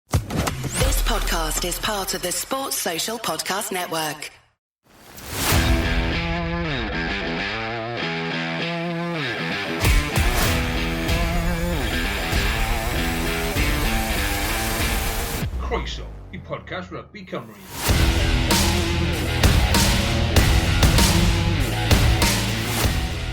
This podcast is part of the Sports Social Podcast Network. Croeso i podcast Rugby Cymru.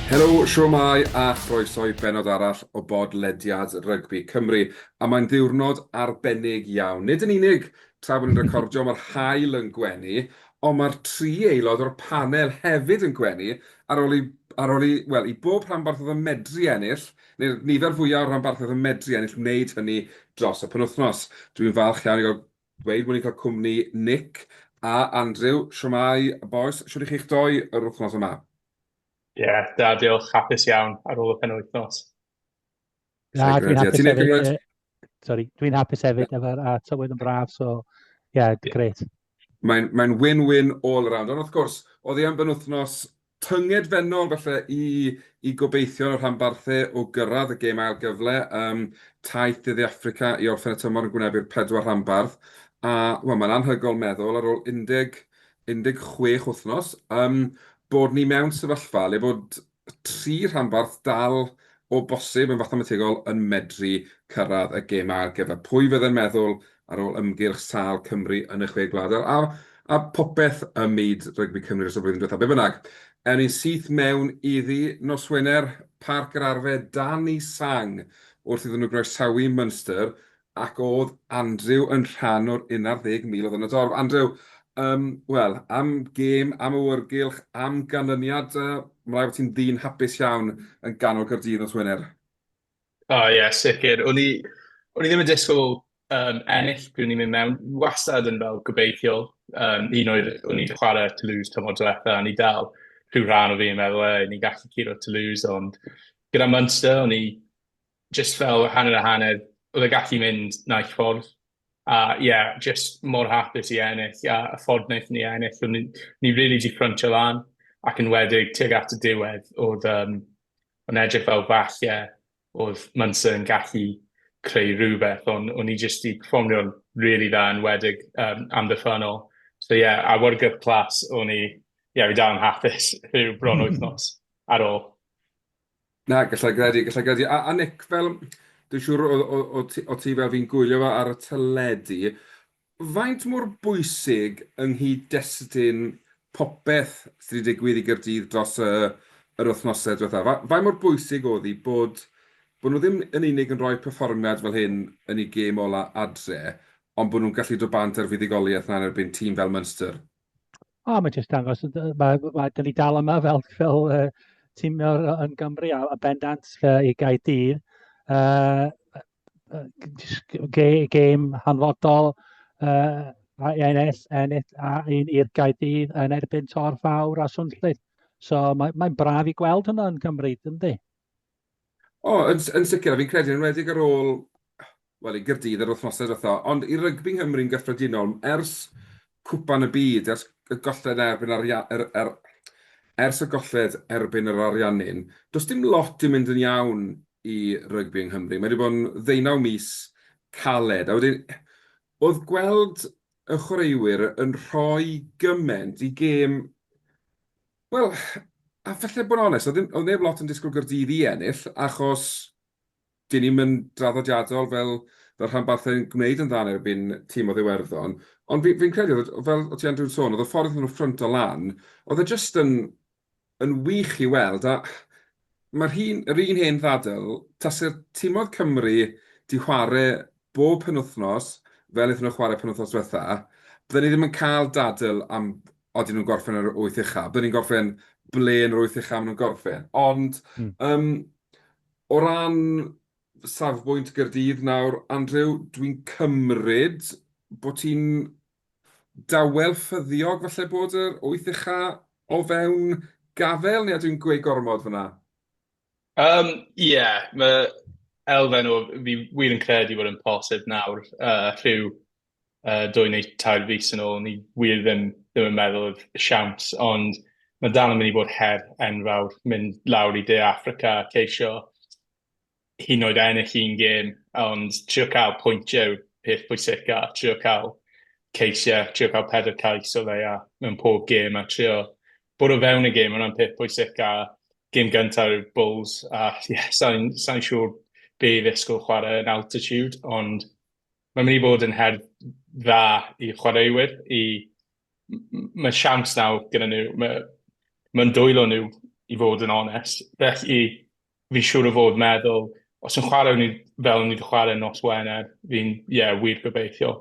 Helo, siwmai a chroeso i benod arall o bodlediad Rygbi Cymru. A mae'n ddiwrnod arbennig iawn, nid yn unig tra bod ni'n recordio mae'r haul yn gwenu, ond mae'r tri aelod o'r panel hefyd yn gwenu ar ôl i, ar ôl i, wel, i bob rhanbarthod yn medru ennill, neu'r nifer fwyaf o ranbarthau yn medru ennill wneud hynny dros y penwythnos. Dwi'n falch iawn i gael dweud bod ni'n cael cwmni Nick a Andrew. Shwmae bois, shwt i chi'ch doi yr wythnos yma? Ie, da diolch, hapus iawn ar ôl y penwythnos. Na, dwi'n hapus hefyd. Sorry, dwi'n hapus hefyd efo'r a tywydd yn braf, so ie, yeah, gret. Mae'n mae win-win all around. Ond wrth gwrs, oedd hi am benwthnos tynged fennol falle i, i gobeithio yn y rhanbarthau o gyrraedd y gêm ail gyfle. Um, taith dyddi Africa i orffen y tymor yn gwynebu'r pedwar rhanbarth. A well, mae'n anhygol meddwl ar ôl 10, 16 wythnos um, bod ni mewn sefyllfa le bod y tri rhanbarth dal o bosib yn fathemategol yn medru cyrraedd y gemau ar gyfer pwy fydde'n meddwl ar ôl ymgyrch sâl Cymru yn y Chwe Gwlad a a phopeth ym myd rygbi Cymru dros y flwyddyn diwethaf. Be bynnag, ewn ni'n syth mewn iddi nos Wener, Parc yr Arfe, dan i sang wrth iddyn nhw groesawu Munster Ac oedd Andrew yn rhan o'r unardd ddeg mil oedd yn y dorf? Andrew, Yym, wel, am gêm, am awyrgylch, am ganlyniad, yy, mae'n rhaid bod ti'n ddyn hapus iawn yn ganol Caerdydd nos Wener. O oh, ie, yeah, sicr. O'n i, o'n i ddim yn disgwyl um, ennill pryd o'n i'n mynd mewn. Wastad yn fel gobeithiol. Um, un oedd, o'n i'n chwarae Toulouse tymor diwetha, o'n i dal rhyw rhan o fi yn meddwl, e, ni'n gallu curo Toulouse, ond gyda Munster, o'n i jyst fel hanner a hanner, oedd e gallu mynd naill ffordd, a ie, jyst mor hapus i ennill, a y ffordd wnaethon ni ennill, o'n ni ni rili 'di ffryntio lan, ac enwedig tuag at y diwedd, oedd yym o'n edrych fel falle oedd Munster yn gallu creu rhywbeth, ond o'n ni jyst 'di perfformio'n rili dda, enwedig yym amddiffynnol, so ie, awyrgylch clas o'n i, ie, fi dal yn hapus rhyw bron wythnos ar ôl. Na, gallai gredu, gallai gredu. A, a Nick, fel, dwi'n siŵr o, o, o, ti, o ti fel fi'n gwylio fo ar y teledu, faint mor bwysig yng nghyd-destun popeth sydd wedi digwydd i Gyrdydd dros y, yr wythnosau diwethaf? Fa, faint mor bwysig oedd hi bod, bod nhw ddim yn unig yn rhoi perfformiad fel hyn yn ei gêm ola adre, ond bod nhw'n gallu dod bant ar fuddugoliaeth na yn erbyn tîm fel Munster? O, mae jyst dangos, mae, mae, da ni dal yma fel, fel uh, tîm yn Gymru a, a bendant uh, i Gaerdydd. Uh, gêm hanfodol uh, a ennill, ennill a un i'r Gaerdydd yn erbyn Tor Fawr a Swnllyd. So mae'n mae braf i gweld hwnna yn Gymru, ynddi? O, yn s- yn sicr, a fi'n credu yn enwedig ar ôl, wel, i Gaerdydd yr wythnosau diwetha', ond i rygbi yng Nghymru'n gyffredinol, ers Cwpan y Byd, ers y golled erbyn Aria- yr- yr- ers y golled erbyn yr Ariannin, does dim lot 'di mynd yn iawn i rygbi yng Nghymru. Mae 'di bod yn ddeunaw mis caled, a wedyn oedd gweld y chwaraewyr yn rhoi gymaint i gêm Wel, a falle bod yn onest, oedd ddim, oedd neb lot yn disgwyl Gaerdydd i ennill, achos dyn ni'm yn draddodiadol fel, fel rhanbarthau'n gwneud yn dda yn erbyn tîm o Ddiwerddon. Ond fi, fi'n credu, oedd, fel o ti Andrew'n sôn, oedd y ffordd nhw'n ffrynt o lan, oedd e jyst yn, yn wych i weld, a Mae'r hyn, yr un hen ddadl, tase'r timodd Cymru 'di chware bob penwthnos fel aethon nhw chware penwthnos dwetha, bydden ni ddim yn cael dadl am odyn nhw'n gorffen yn yr wyth ucha, bydden ni'n gorffen ble yn yr wyth ucha ma' nhw'n gorffen. Ond yym o ran safbwynt Gaerdydd nawr, Andrew, dwi'n cymryd bo' ti'n dawel ffyddiog falle bod yr wyth ucha o fewn gafael neu ydw i'n gweud gormod fyna? Um, ie, yeah, mae elfen o fi wir yn credu bod yn posib nawr uh, rhyw uh, dwy neu tair fus yn ôl, ni wir ddim, ddim yn meddwl oedd siawns, ond mae dal yn mynd i fod her enfawr mynd lawr i De Africa ceisio hyd yn oed ennill un gêm, ond trio cael pwyntiau yw'r peth pwysica, trio cael ceisiau, trio cael pedair cais o leia mewn pob gêm, a trio bod o fewn y gêm, hwnna'n peth pwysica. Gêm gyntaf yw'r Bulls, a ie, yeah, sa'n sa siŵr be i ddisgwyl chwarae yn altitude, ond mae'n mynd i fod yn her dda i chwaraewyr, i... mae siawns nawr gyda nhw, mae'n ma dwylo nhw i fod yn onest, felly fi'n siŵr o fod meddwl, os yn chwarae ni fel ni wedi chwarae nos Wener, fi'n, ie, yeah, wir gobeithio.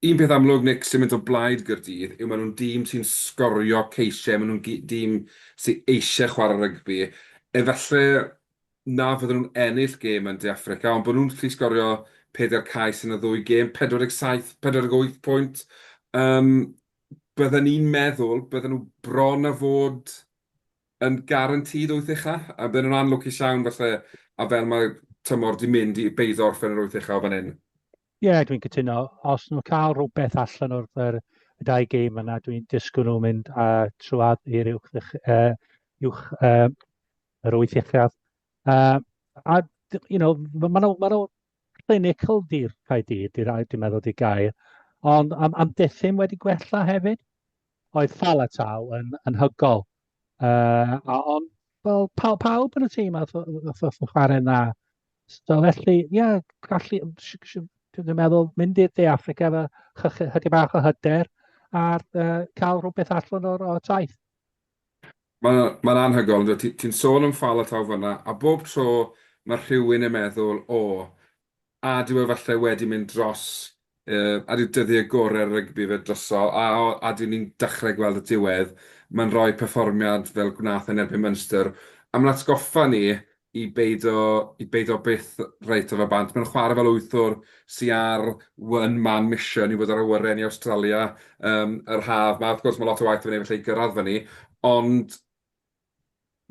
Un peth amlwg, Nick, sy'n mynd o blaid Gyrdydd yw maen nhw'n dîm sy'n sgorio ceisiau, maen nhw'n dîm sy'n eisiau chwarae rygbi. Efallai na fydden nhw'n ennill gêm yn De Affrica, ond bod nhw'n gallu sgorio peder cais yn y ddwy gêm, 47, 48 pwynt. Um, bydden ni'n meddwl, bydden nhw bron a fod yn guaranteed wyth ucha, a bydden nhw'n anlwcus iawn falle, a fel mae tymor wedi mynd i beido orffen yr wyth ucha o fan hyn. Ie, yeah, dwi'n cytuno. Os nhw'n cael rhywbeth allan o'r yr, y dau gêm yna, dwi'n disgwyl nhw'n mynd a trwad i'r uwch, uh, uwch uh, yr wyth uchaf. Uh, a, you know, mae nhw, ma nhw clinical di'r cae dyd, dwi'n meddwl di gair, ond am, am diffyn wedi gwella hefyd. Oedd Fal a Taw yn anhygoel. Uh, a ond, wel, paw, pawb yn y tîm a wrth y chwarae yna. So felly, ie, yeah, gallu, dwi'n meddwl, mynd i'r De Africa efo chydig bach o hyder a uh, cael rhywbeth allan o'r o taith. Mae'n ma anhygoel, ti'n ti sôn am ffal a taw fyna, a bob tro mae rhywun yn meddwl, o, A dyw e falle wedi mynd dros yy a dyw dyddie gore rygbi fe droso a o a dyw ni'n dachre gweld y diwedd ma'n roi perfformiad fel gwnath yn erbyn Munster a ma'n atgoffa ni i beido i beido byth reit o fe bant ma'n chware fel wythwr sy ar one man mission i fod ar awyren i Awstralia yym yr haf ma wrth gwrs ma lot o waith i fy neud falle i gyrradd fyny ond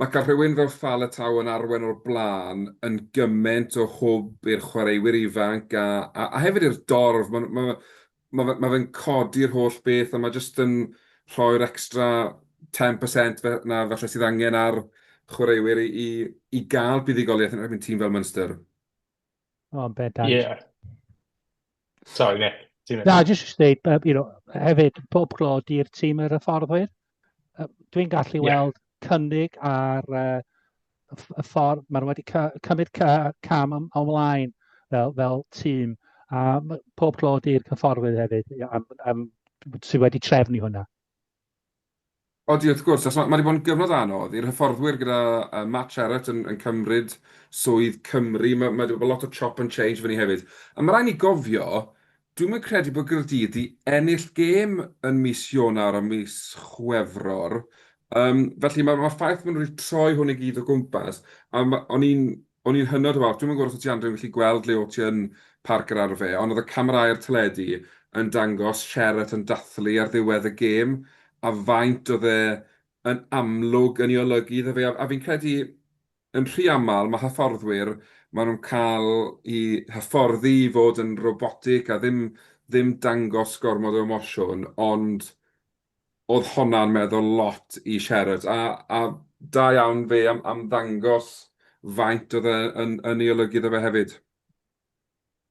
Mae cael rhywun fel Faletau yn arwain o'r blaen yn gymaint o hwb i'r chwaraewyr ifanc a a hefyd i'r dorf. Mae'n ma' fe ma' fe ma' fe'n codi'r holl beth a mae jyst yn rhoi'r extra ten percent fe- 'na falle sydd angen ar chwaraewyr i i i gael buddugoliaeth yn erbyn tîm fel Munster. O, yn bendant. Ie. Yeah. Sorry, Nick. Na, jyst i ddeud, uh, you know, hefyd, pob glod i'r tîm yr hyfforddwyr. Uh, Dwi'n gallu yeah. weld cynnig ar uh, y ffordd, maen nhw wedi cymryd cam am, ymlaen fel, fel tîm. A pob clod i'r cyfforddwyr hefyd am, am, sydd wedi trefnu hwnna. Odi, wrth gwrs, achos mae 'di bod yn gyfnod anodd i'r hyfforddwyr gyda Matt Sherratt yn cymryd swydd Cymru. Mae 'di bod lot o chop and change efo ni hefyd. Ond mae rhaid ni gofio, dwi'm yn credu bod Gaerdydd 'di ennill gêm yn mis Ionawr a mis Chwefror. Felly, mae'r ffaith bod nhw 'di troi hwn i gyd o gwmpas, a o'n i'n O'n i'n hynod o falch. Dwi'm yn gwybod os wyt ti Andrew yn gallu gweld le o't ti yn Parc yr Arfe, ond oedd y camerâu'r teledu yn dangos Sherratt yn dathlu ar ddiwedd y gêm, a faint oedd e yn amlwg yn ei olygu iddo fe. A fi'n credu, yn rhy aml, mae hyfforddwyr, maen nhw'n cael eu hyfforddi i fod yn robotic a ddim ddim dangos gormod o emosiwn, ond Oedd honna'n meddwl lot i Sherrod, a a da iawn fe am am ddangos faint oedd e yn yn ei olygu iddo fe hefyd.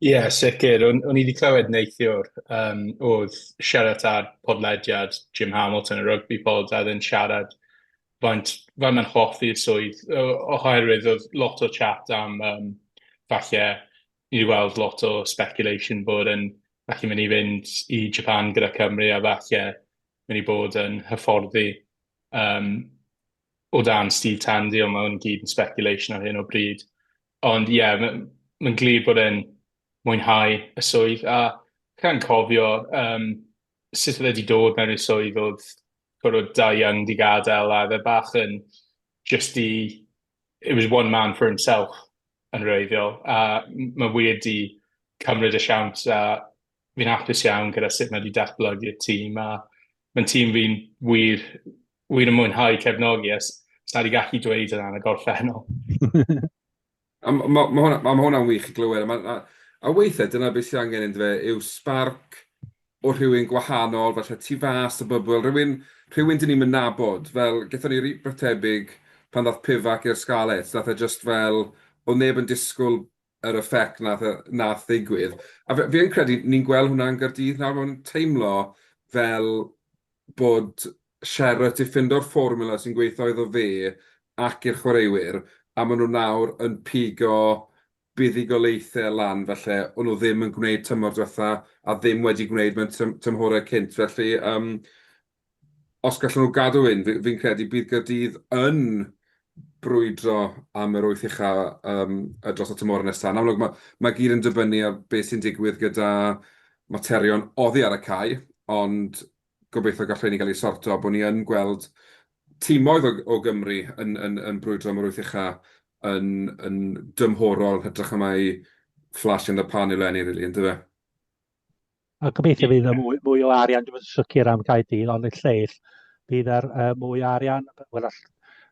Ie, sicr. O'n, o'n i wedi clywed neithiwr, um, oedd siarad ar podlediad Jim Hamilton, y rugby pod, a ddyn siarad faint, faint mae'n hoffi'r swydd, oherwydd oedd lot o chat am um, falle ni wedi gweld lot o speculation bod e'n gallu mynd i fynd i Japan gyda Cymru a falle mynd i bod yn hyfforddi um, o dan Steve Tandy, ond mae hwn gyd yn speculation ar hyn o bryd. Ond ie, yeah, mae'n ma glir bod e'n mwynhau y swydd, a gan cofio um, sut oedd wedi dod mewn i'r swydd oedd gorfod da young di gadael, a fe bach yn just i it was one man for himself yn wreiddiol, a mae wir di cymryd y siawns a fi'n hapus iawn gyda sut mae wedi datblygu'r tîm a mae'n tîm fi'n wir, wir yn mwynhau cefnogi a sa wedi gallu dweud yna yn y gorffennol. a mae ma, ma hwnna'n ma hwnna wych i glywed. A, ma, a, a weithiau dyna beth sydd angen yn dweud yw sbarc o rhywun gwahanol, falle tu fas o bybl, rhywun, rhywun dyn ni'm yn nabod. Fel, gethon ni rywbeth tebyg pan ddaeth Pivac i'r Scarlets, nath e jyst fel, o'dd neb yn disgwl yr effect nath yy nath ddigwydd. A f- fi yn credu ni'n gweld hwnna yn Gaerdydd nawr, ma'n teimlo fel bod Sherratt 'di ffindo'r fformula sy'n gweitho iddo fe ac i'r chwaraewyr, a ma' nw nawr yn pigo buddugoliaethau lan falle o'n nhw ddim yn gwneud tymor diwetha' a ddim wedi gwneud mewn tym- tymhorau cynt felly yym os gallen nhw gadw hyn fi fi'n credu bydd Caerdydd yn brwydro am yr wyth ucha' yym yy dros y tymhorau nesa'. Yn amlwg ma' ma' i gyd yn dibynnu ar be' sy'n digwydd gyda materion oddi ar y cae ond gobeithio gall rheini gael eu sorto, bod ni yn gweld timoedd o o Gymru yn yn yn brwydro am yr wyth ucha yn yn dymhorol yn hytrach na mai flash in the pan yw Lenny rili yndyfe? A gobeithio fydd yna mwy mwy o arian, dwi'm yn sicr am Caerdydd ond y lleill bydd ar uh, mwy o arian, wel all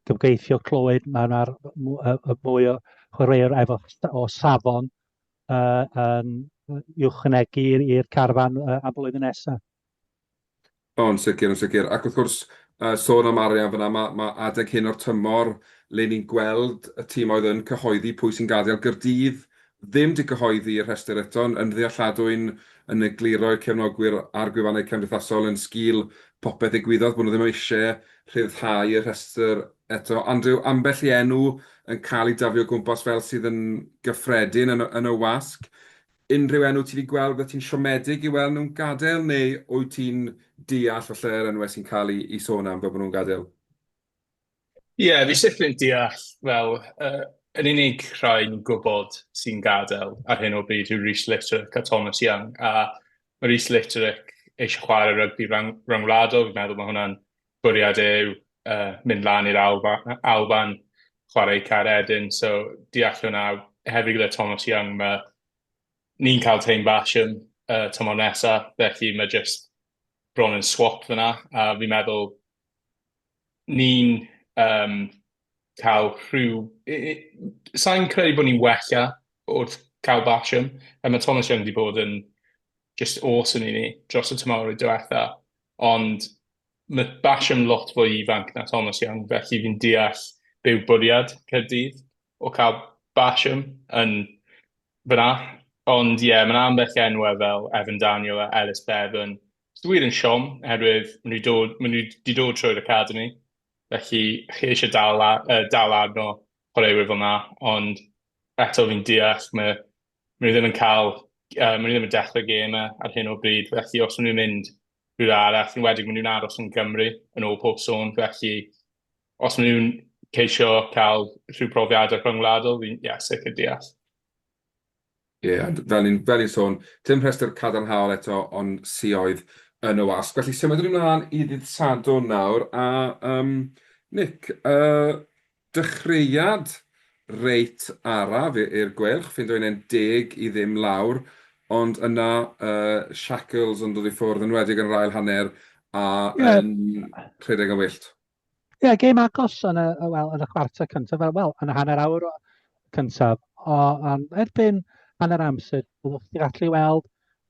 gymgeithio clywed mae yna mwy o chwaraewyr efo o safon uh, yn ychwanegu i'r carfan uh, am blwyddyn nesaf. O, yn sicr, yn sicr. Ac wrth gwrs, sôn am arian fan'na, mae adeg hyn o'r tymor le ni'n gweld y tîmoedd yn cyhoeddi pwy sy'n gadael Gaerdydd ddim 'di cyhoeddi y rhestr eto'n yn ddealladwy'n yn egluro i'r cefnogwyr a'r gwefannau cymdeithasol yn sgil popeth ddigwyddodd bod nhw ddim eisiau rhyddhau y rhestr eto. Andrew, ambell i enw yn cael ei daflu o gwmpas fel sydd yn gyffredin yn y, yn y wasg. Unrhyw enw ti 'di gweld byddet ti'n siomedig i weld nhw'n gadael neu wyt ti'n deall falle yr enwau sy'n cael eu eu sôn am fel bod nhw'n gadael? Ie, fi sifr yn deall fel yy yr unig rhai ni'n gwybod sy'n gadael ar hyn o bryd yw Reece Litterick a Thomas Young a ma' Reece Litterick eisiau chwarae rygbi rhyng- ryngwladol, fi'n meddwl ma' hwnna'n bwriad yw uh, mynd lan i'r Alban, Alban chwarae i Caer Edyn, so deall hwnna hefyd gyda Thomas Young, mae ni'n cael tein fashion uh, tymor nesa, felly mae jyst bron yn swap fyna, a fi'n meddwl ni'n um, cael rhyw... Sa'n credu bod ni'n wella wrth cael fashion, a mae Thomas Young wedi bod yn just awesome i ni dros y tymor i diwetha. Ond mae Bash yn lot fwy ifanc na Thomas Young, felly fi'n deall be yw bwriad Caerdydd o cael Basham yn fyna. Ond ie, mae'n ambell enwau fel Evan Daniel a Ellis Bevan. Dwi wir yn siom, oherwydd maen nhw dod, maen nhw wedi dod trwy'r academi. Felly, chi eisiau dal, uh, dal arno chwaraewyr fel yna, ond eto fi'n deall mae maen nhw ddim yn cael, uh, maen nhw ddim yn dechrau gêm ar hyn o bryd, felly os maen nhw'n mynd rhywle arall, yn wedig maen nhw'n aros yn Gymru yn ôl pob sôn, felly os maen nhw'n ceisio cael rhyw profiadau rhyngwladol, fi'n yeah, sicr deall. Ie, yeah, fel ni'n ni sôn, dim rhestr cadarnhaol eto o'n sioedd yn y wasg. Felly symud ni'n mlaen i ddydd Sadwrn nawr, a um, Nick, uh, Dechreuad reit araf i'r Gweilch, ffindo 11 i ddim lawr, ond yna y shackles yn dod i ffwrdd, yn enwedig yn yr ail hanner a yn rhedeg yn wyllt. Ie, yeah, gêm agos yn y, well, yn y chwarter cyntaf, fel, well, yn y hanner awr cyntaf. O, um, erbyn hanner amser, byddwch chi'n gallu weld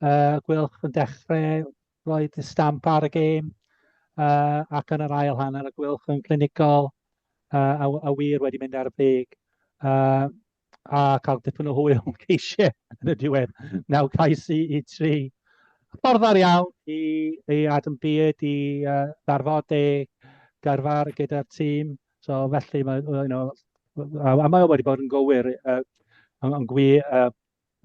uh, Gwylch yn dechrau Roedd y stamp ar y gêm uh, ac yn yr ail hanner y gwylch yn clinigol uh, a, a wir wedi mynd ar y brig. Uh, a cael dipyn o hwyl yn ceisiau yn y diwedd. Naw cais i, i tri. Ffordd dda iawn i, i Adam Beard i uh, ddarfod ei garfar gyda'r tîm. So felly, mae, you know, a, a mae wedi bod yn gywir, uh, yn, yn gwi, uh,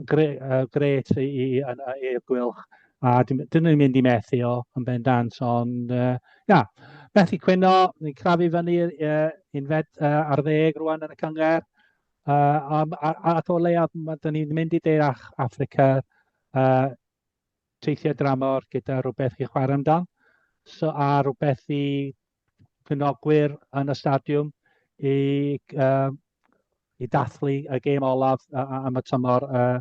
Gret i Eir Gwylch, a dyn ni'n mynd i methu o yn bendant, ond ia, methu cwyno, ni'n crafu fyny unfed ar ddeg rwan yn y cyngerdd, ac o leiaf dyn ni'n mynd i De Affrica teithio dramor gyda rhywbeth i chwarae amdan, a rhywbeth i cynogwyr yn y stadiwm i uh, i dathlu y gêm olaf am y tymor uh,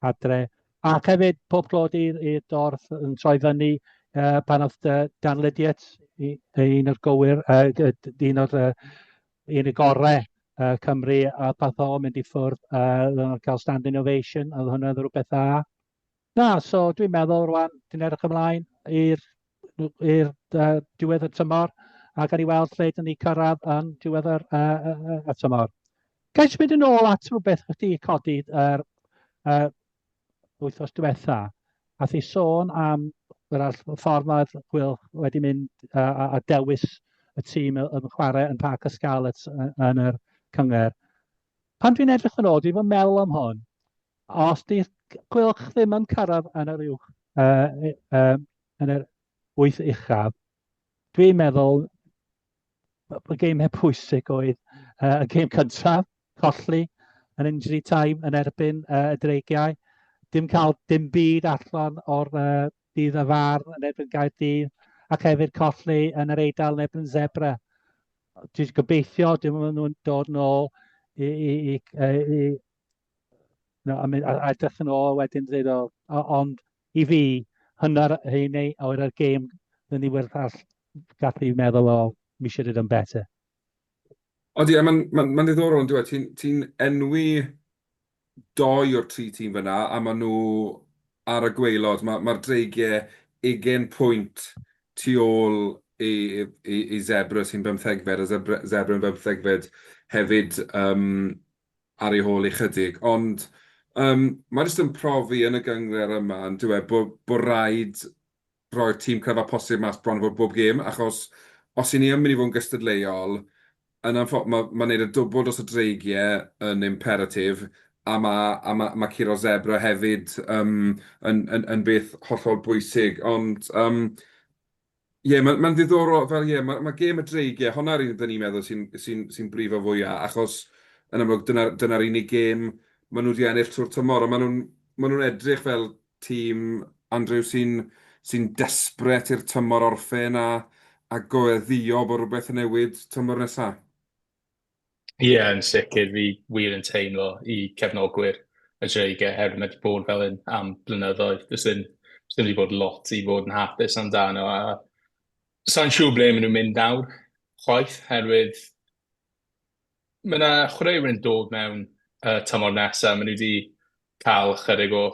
adre. Ac hefyd pob clod i'r dorth yn troi fyny uh, pan oedd uh, Dan Lydiet, un o'r gywir, uh, un o'r uh, un y gorau uh, Cymru, a path o mynd i ffwrdd uh, cael standing ovation, oedd hwnna'n rhywbeth dda. Na, so dwi'n meddwl rwan, dwi'n edrych ymlaen i'r i'r uh, diwedd y tymor a gan i weld lle dyn ni cyrraedd yn diwedd yr, uh, uh, y tymor. Gael eich mynd yn ôl at rhywbeth wedi codi yr uh, wythnos diwetha, a thi sôn am yr ffordd mae'r Wil wedi mynd uh, a dewis y tîm yn chwarae yn Parc y Scarlets yn yr cyngor. Pan dwi'n edrych yn ôl, dwi'n fy meddwl am hon. Os di gwylch ddim yn cyrraedd yn yr uwch, uh, uh, yn yr wyth uchaf, dwi'n meddwl y geimau pwysig oedd uh, y geim cyntaf, colli yn injury time yn erbyn uh, y dreigiau. Dim cael dim byd allan o'r uh, dydd y far yn erbyn gair dydd, ac hefyd colli yn yr eidl yn erbyn zebra. Dwi'n gobeithio dim ond nhw'n dod yn ôl i, i, i, i no, I mean, a, a edrych yn ôl wedyn dweud o, ond i fi, hynna'r hyn ei, o'r ar gêm, dyn ni werth all gallu meddwl o, mi should have done better. Ond ie, mae'n ma, ma ddiddorol yn dweud, ti'n ti enwi dou o'r tri tîm fan'na a maen nhw ar y gwaelod. Ma' ma'r Dreigiau ugain pwynt tu ôl i i i Zebre sy'n bymthegfed a Zebre Zebre yn bymthegfed hefyd yym ar ei hôl ychydig. Ond yym mae jyst yn profi yn y gynghrair yma yndyw e bo' bo' raid roi'r tîm cryfaf posib mas bron a bod bob gêm, achos os y'n ni yn mynd i fod yn gystadleuol, yn anffo- ma' ma' neud y dwbwl dros y dreigie yn imperatif, a ma' a ma' ma' curo'r zebra hefyd yym yn yn yn beth hollol bwysig, ond yym ie ma' ma'n ddiddorol fel ie ma' ma' gêm y dreigie, honna'r un 'dyn ni'n meddwl sy'n sy'n sy'n brifo fwya', achos yn amlwg dyna dyna'r unig gêm ma' nhw 'di ennill trwy'r tymor, a ma' nhw'n ma' nhw'n edrych fel Tîm, Andrew, sy'n sy'n desperate i'r tymor orffen a a goeddio bod rhywbeth yn newid tymor nesaf? Ie, yeah, yn sicr, fi wir yn teimlo i cefnogwyr y Dreigiau oherwydd mae wedi bod fel hyn am blynyddoedd. Does dim, does dim wedi bod lot i fod yn hapus amdano. A sa'n siŵr ble maen nhw'n mynd nawr, chwaith, herwydd mae yna chwaraewyr yn dod mewn uh, tymor nesaf. Maen nhw wedi cael ychydig o,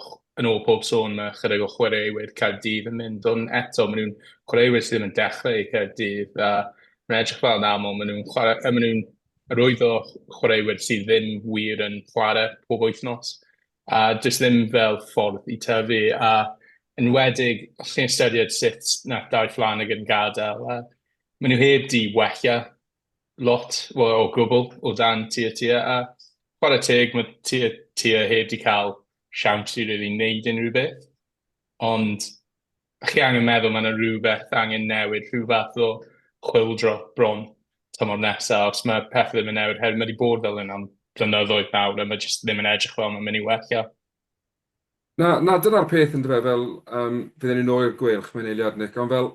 yn ôl pob sôn, mae ychydig o chwaraewyr Caerdydd yn mynd, ond eto, maen nhw'n chwaraewyr sydd ddim yn dechrau i Caerdydd, a mae'n edrych fel yn aml, maen nhw'n chwarae, maen nhw'n rhwydd o chwaraewyr sydd ddim wir yn chwarae pob wythnos, a jyst ddim fel ffordd i tyfu, a yn wedig, os chi'n ystyried sut nath Dai Flanagan gadael, a maen nhw heb di wella lot, wel o gwbl, o dan tua tua, a chwarae teg, mae tua tua heb di cael siawns i really wneud unrhyw beth. Ond chi angen meddwl, mae yna rhywbeth angen newid, rhyw fath o chwildro bron tymor nesaf, os mae pethau ddim yn newid, her mae wedi bod fel hyn am blynyddoedd nawr, a mae jyst ddim yn edrych fel mae'n mynd i wella. Na, na, dyna'r peth yn dyfe, fel um, fydden ni'n ôl i'r gweilch, mae'n eiliad Nick, ond fel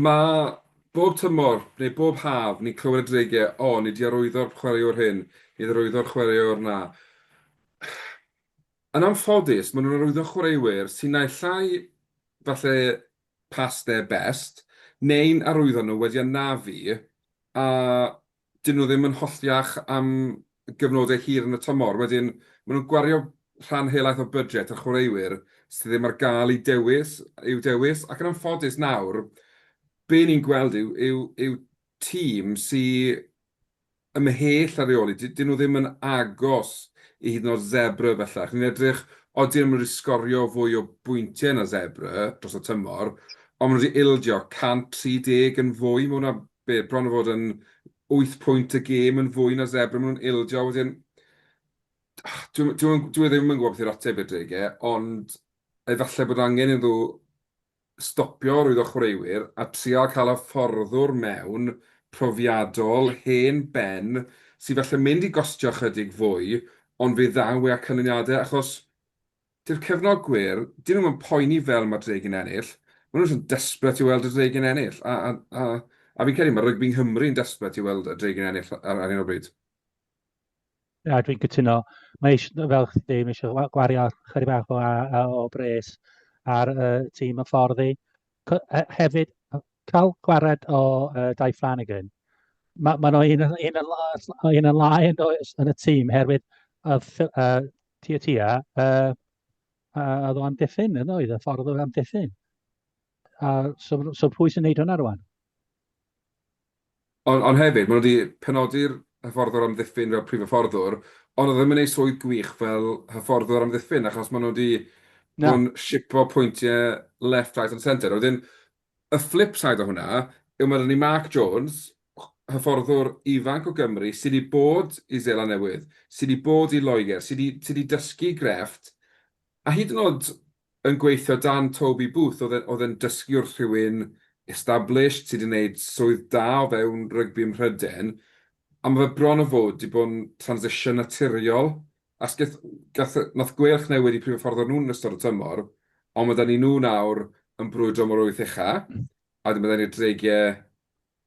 mae bob tymor neu bob haf ni'n clywed y dreigiau, o, oh, ni di arwyddo'r chwaraewr hyn, ni di arwyddo'r chwaraewr na. Yn anffodus, maen nhw'n arwyddo chwaraewyr sy'n naill llai falle past their best, neu'n arwyddo nhw wedi anafu, a 'dyn nhw ddim yn hollti iach am gyfnodau hir yn y tymor. Wedyn, maen nhw'n gwario rhan helaeth o budget ar chwaraewyr sydd ddim ar gael i dewis, i'w dewis, ac yn anffodus nawr, be ni'n gweld yw, yw, yw tîm sy ymhell ar reoli, 'dyn nhw ddim yn agos i hyd yn oed Zebre bellach. Ni'n edrych, odi nhw'n mynd i sgorio fwy o bwyntiau na Zebre dros y tymor, ond maen nhw wedi ildio 130 yn fwy, mae hwnna be, bron a fod yn wyth pwynt y gêm yn fwy na Zebre, maen nhw'n ildio, wedyn, dwi, dwi, dwi e ddim yn gwybod beth yw'r ateb i'r deg e, ond efallai bod angen iddo stopio rwyddo chwaraewyr a trial cael hyfforddwr mewn profiadol, hen ben, sydd falle mynd i gostio chydig fwy, ond fe ddaw e â canlyniadau, achos Dyw'r cefnogwyr, dyn nhw'm yn poeni fel mae'r Dregyn ennill, maen nhw jyst yn desperate i weld y Dregyn ennill, a, a, a, a fi'n credu mae rygbi Nghymru yn desperate i weld y Dregyn ennill ar, ar un o bryd. Na, dwi'n cytuno. Mae eisiau, fel chdi dweud, mae eisiau gwario chydig bach o, o, o bres ar y uh, tîm y fforddi. Hefyd, cael gwared o uh, Dai Flanagan, mae ma nhw un, un, un yn lai yn, yn y tîm, herwydd uh, uh, Tua tua, a a oedd o amddiffyn yn oedd, y ffordd oedd amddiffyn. A so, so pwy sy'n neud hwnna rwan? Ond on hefyd, maen nhw wedi penodi'r hyfforddwr amddiffyn fel prif hyfforddwr, ond oedd e ddim yn ei swydd gwych fel hyfforddwr amddiffyn, achos maen nhw wedi bod yn sipo pwyntiau left, right and centre. Wedyn, Y flip side o hwnna yw ma' 'da ni Mark Jones, hyfforddwr ifanc o Gymru sy' 'di bod i Seland Newydd, sy' 'di bod i Loegr, sy' 'di sy' 'di dysgu grefft, a hyd yn o'd yn gweithio dan Toby Booth o'dd e'n o'dd e'n dysgu wrth rhywun established sy' 'di neud swydd da o fewn rygbi ym Mhryden, a ma' fe bron o fod 'di bod yn transition naturiol Asgell, gath, nath gweilch newid i prif hyfforddwr nhw yn ystod y tymor, ond mae 'da ni nhw nawr yn brwydro am yr wyth ucha, a wedyn mae 'da ni'r Dreigiau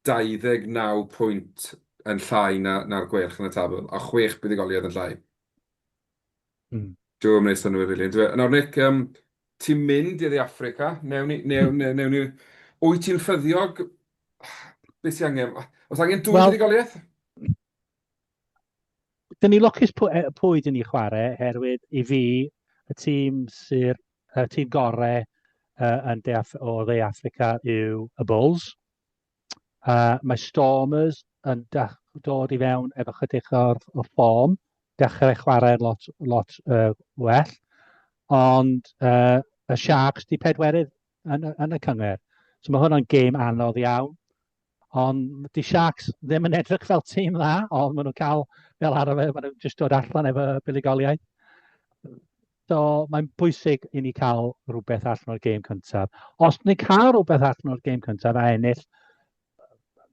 29 pwynt yn llai na, na'r Gweilch yn y tabl, a chwech buddugoliaeth yn llai. Mm. Dyw e'm yn neud synnwyr rili, yndyw e? Nawr Nick, um, ti'n mynd i Dde Affrica, newn ni, newn, newn, newn ni... Wyt ti'n ffyddiog? Beth sy'n angen? Os angen dwy well, buddugoliaeth? Dyn ni lwcus pwy, e, pwy dyn ni chwarae, herwydd i fi, y tîm sy'r y tîm gorau uh, yn de Af o dde Africa yw y Bulls. Uh, mae Stormers yn dod i fewn efo chydig o'r, o'r ffom, dechrau chwarae lot, lot uh, well, ond uh, y Sharks di pedwerydd yn, yn y cyngor. So mae hwnna'n gêm anodd iawn. Ond 'di Sharks ddim yn edrych fel tîm dda, ond maen nhw'n cael fel arfer, maen nhw'n jyst dod allan efo buddugoliaeth. So mae'n bwysig i ni cael rhywbeth allan o'r gêm cyntaf. Os ni'n cael rhywbeth allan o'r gêm cyntaf a ennill,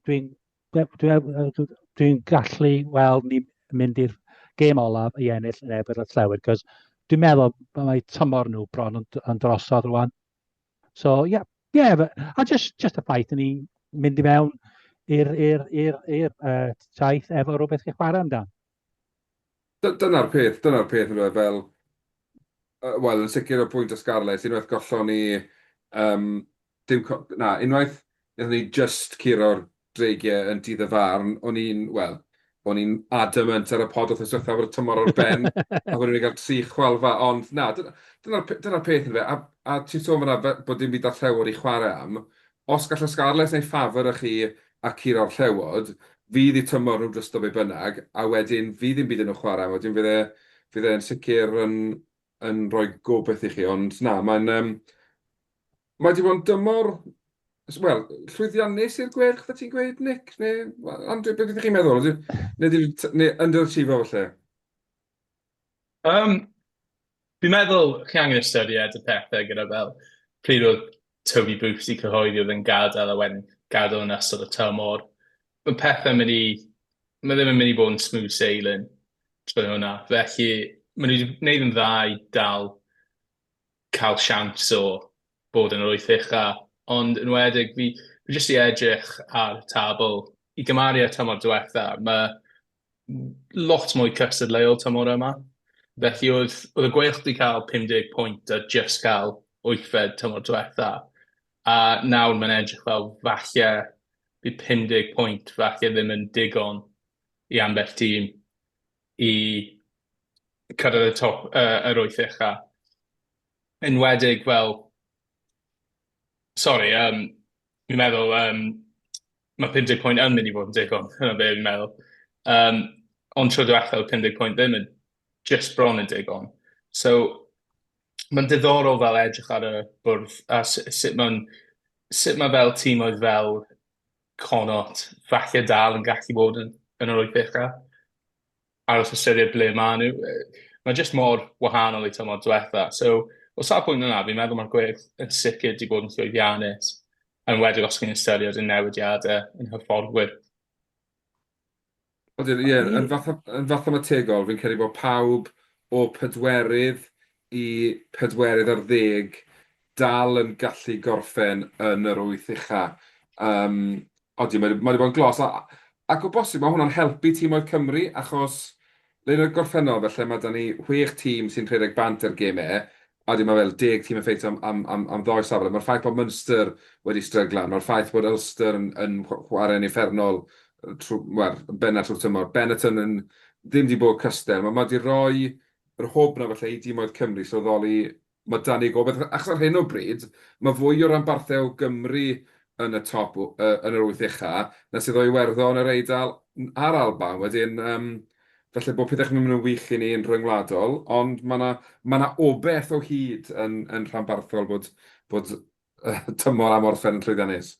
dwi'n dwi, dwi, dwi gallu weld ni'n mynd i'r gêm olaf i ennill yn ebr y llewyd, cos dwi'n meddwl mae tymor nhw bron yn, yn drosodd rwan. So, ie, yeah, yeah, but, a just, just y ffaith i ni mynd i mewn i'r uh, taith efo rhywbeth chi'n chwarae amdano. Dyna'r peth, dyna'r peth yn fel, uh, wel, yn sicr o bwynt o Scarlett, unwaith gollon ni, um, dim, na, unwaith, nethon ni just curo'r dreigiau yn dydd y farn, o'n i'n, wel, o'n i'n adamant ar y pod wrth ysgrifennu fod y tymor o'r ben, a bod ni'n cael tri chwalfa, ond na, dyna'r dyna dyna peth yn fe, a, a ti'n sôn fyna bod dim byd ar llewod i chwarae am, os gallai Scarlets neu ffafr â chi a cur o'r llewod, fydd i tymor nhw'n drysto be bynnag, a wedyn fydd dim byd yn nhw chwarae, wedyn fydd e, fydd e'n sicr yn, yn rhoi gobaith i chi, ond na, mae'n, um, Mae wedi bod yn dymor, wel, llwyddiannus i'r Gweilch, fe ti'n gweud, Nick? Neu, Andrew, beth ydych chi'n meddwl? Neu, neu, neu underachiever falle? Um, fi'n meddwl chi angen ystyried y pethau gyda fel pryd oedd Toby Booth i cyhoeddi oedd yn gadael a wedyn gadael yn ystod y tymor. Mae pethau mynd i... Mae ddim yn mynd i bod yn smooth sailing trwy hwnna. Felly, maen nhw wedi gwneud yn dda i dal cael siawns o fod yn yr wyth ucha, ond yn wedig fi fi jyst 'di edrych ar y tabl i gymaru â'r tymor diwetha, ma' lot mwy cystadleuol tymor yma. Felly oedd oedd y Gweilch 'di cael 50 pwynt a jyst cael wythfed tymor diwetha, a nawr mae'n edrych fel falle bydd 50 pwynt falle ddim yn digon i ambell tîm. i cyrraedd y top, yy, yr wyth ucha. Enwedig fel... Sori, yym, fi'n meddwl, yym, ma' pum deg pwynt yn mynd i fod yn digon, dyna be fi'n meddwl. Yym, ond tro diwetha' o'dd pum deg pwynt ddim yn... jyst bron yn digon. So, ma'n diddorol fel edrych ar y bwrdd a s- sut ma'n... sut ma' fel tîmoedd fel Connaught falle dal yn gallu bod yn, yn yr oedfech a aros ystyried ble maen nhw. Mae jyst mor wahanol i tymor diwetha. So, o safbwynt yna, fi'n meddwl mae'r gwerth yn sicr wedi bod yn llwyddiannus, yn wedig os chi'n ystyried y newidiadau yn hyfforddwyr. Odyn, ie, yn fatha, yn fatha mategol, fi'n credu bod pawb o pedwerydd i pedwerydd ar ddeg dal yn gallu gorffen yn yr wyth ucha. Um, odi, mae wedi bod yn glos. A, ac o bosib, mae hwnna'n helpu tîmoedd Cymru, achos le yn y gorffennol, felly mae da ni chwech tîm sy'n rhedeg bant ar gem e, Ydy, mae fel deg tîm yn ffeitio am ddoi safle. Mae'r ffaith bod Munster wedi stryglan, mae'r ffaith bod Ulster yn chwarae'n uffernol yn bennaf trwy'r tymor, Benetton yn ddim wedi bod cystal. Mae wedi rhoi yr hwb 'na falle i dimoedd Cymru sylweddoli mae 'da ni gobaith. Achos ar hyn o bryd, mae fwy o ranbarthau o Gymru yn y top, yn yr wyth ucha, na sydd o Iwerddon, yr Eidal a'r Alban. Wedyn, Falle bod pethau ddim yn wych i ni yn rhyngwladol, ond mae 'na, mae 'na obaith o hyd yn, yn rhanbarthol bod, bod tymor am orffen yn llwyddiannus.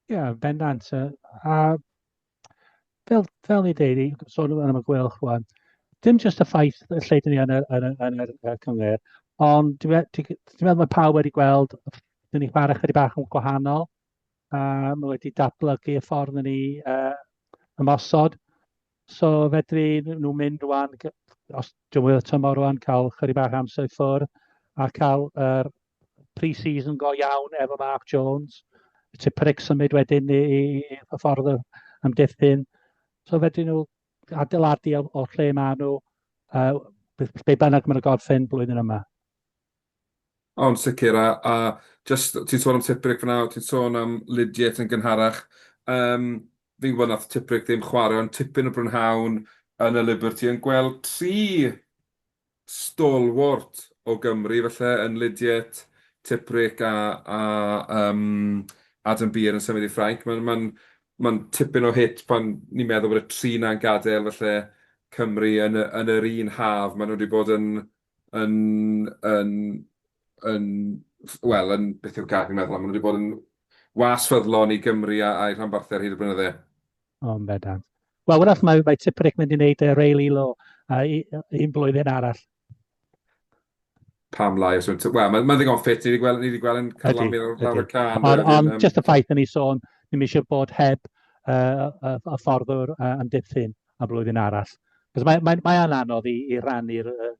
Ie, yeah, bendant. A fel, fel i ddeud, i sôn so, am y gwelch rwan, dim jyst y ffaith y lle dyn ni yn y, yn y, yn y, y cyngor, ond dwi'n meddwl mae pawb wedi gweld, dyn ni chwarae chydig bach yn gwahanol, Uh, mae wedi datblygu y ffordd yn ni uh, ymosod. So fedri nhw mynd rwan, os dwi'n wyl tymor rwan, cael chyri bach amser i ffwrdd a cael yr er pre-season go iawn efo Mark Jones. Ti pric symud wedyn i, i, i y ffordd am diffyn. So fedri nhw adeiladu o, o lle maen nhw, uh, be bynnag maen nhw gorffen blwyddyn yma. O, yn sicr, a, a jyst, ti'n sôn am Tipuric fyna, o, ti'n sôn am Lydiate yn gynharach. Um, fi'n gwybod nath Tipuric ddim chwarae, ond tipyn o brynhawn yn y Liberty yn gweld tri stalwart o Gymru, felly yn Lydiate, Tipuric a, a um, Adam Beer yn symud i Ffrainc. Mae'n ma ma tipyn o hit pan ni'n meddwl bod y tri na'n gadael, felly Cymru yn, yn yr un haf. Maen nhw wedi bod yn yn, yn, yn, wel, yn, beth yw'r gair fi'n meddwl am, maen nhw wedi bod yn was ffyddlon i Gymru a'i rhanbarthau ar hyd y blynydde. O, yn bendant. Wel, wrach, mae, mae Tiprick mynd i wneud uh, Ray Lilo uh, un blwyddyn arall. Pam lai, os yw'n... Wel, mae'n ma ddigon ffit, ni wedi gweld, ni wedi gweld yn carlamu ar lawr y can. Ond on, just y ffaith yn ei sôn, ni'n eisiau bod heb uh, y, y fforddwr uh, yn diffyn. am flwyddyn arall. Achos mae, mae, mae anodd i, i rannu'r uh,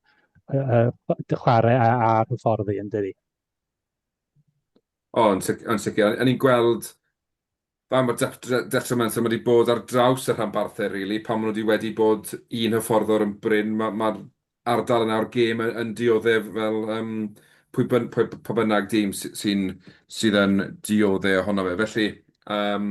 uh, dy chwarae a'r hyfforddi yn dydi. O, yn sicr. Yn ni'n gweld pa mor detrimental mae wedi bod ar draws y rhanbarthau, rili. Really. Pan maen nhw wedi wedi bod un hyfforddwr yn bryn, mae'r ma ardal yna o'r gêm yn, yn dioddef fel um, pwy, byn, pwy, pwy bynnag dîm sy'n sydd yn diodde ohono fe. Felly, um,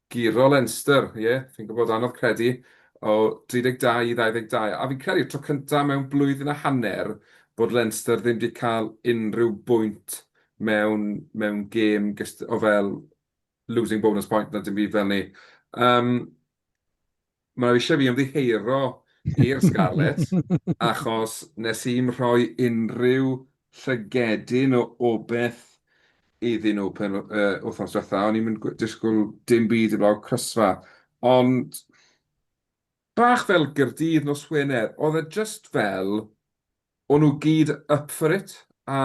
Giro Leinster, ie, fi'n gwybod, anodd credu, o 32 i 22, a fi'n credu'r tro cyntaf mewn blwyddyn a hanner bod Leinster ddim wedi cael unrhyw bwynt mewn, mewn gêm gyst- o fel losing bonus point na dim byd fel 'ny. Yym. Mae nhw eisiau fi ymddiheuro i'r Scarlet achos nes i'm rhoi unrhyw llygedyn o obeth iddyn nhw pen yr wythnos diwetha'. O'n i'm yn disgwyl dim byd heblaw crysfa. Ond bach fel Gaerdydd nos Wener, oedd e jyst fel o'n nhw gyd up for it a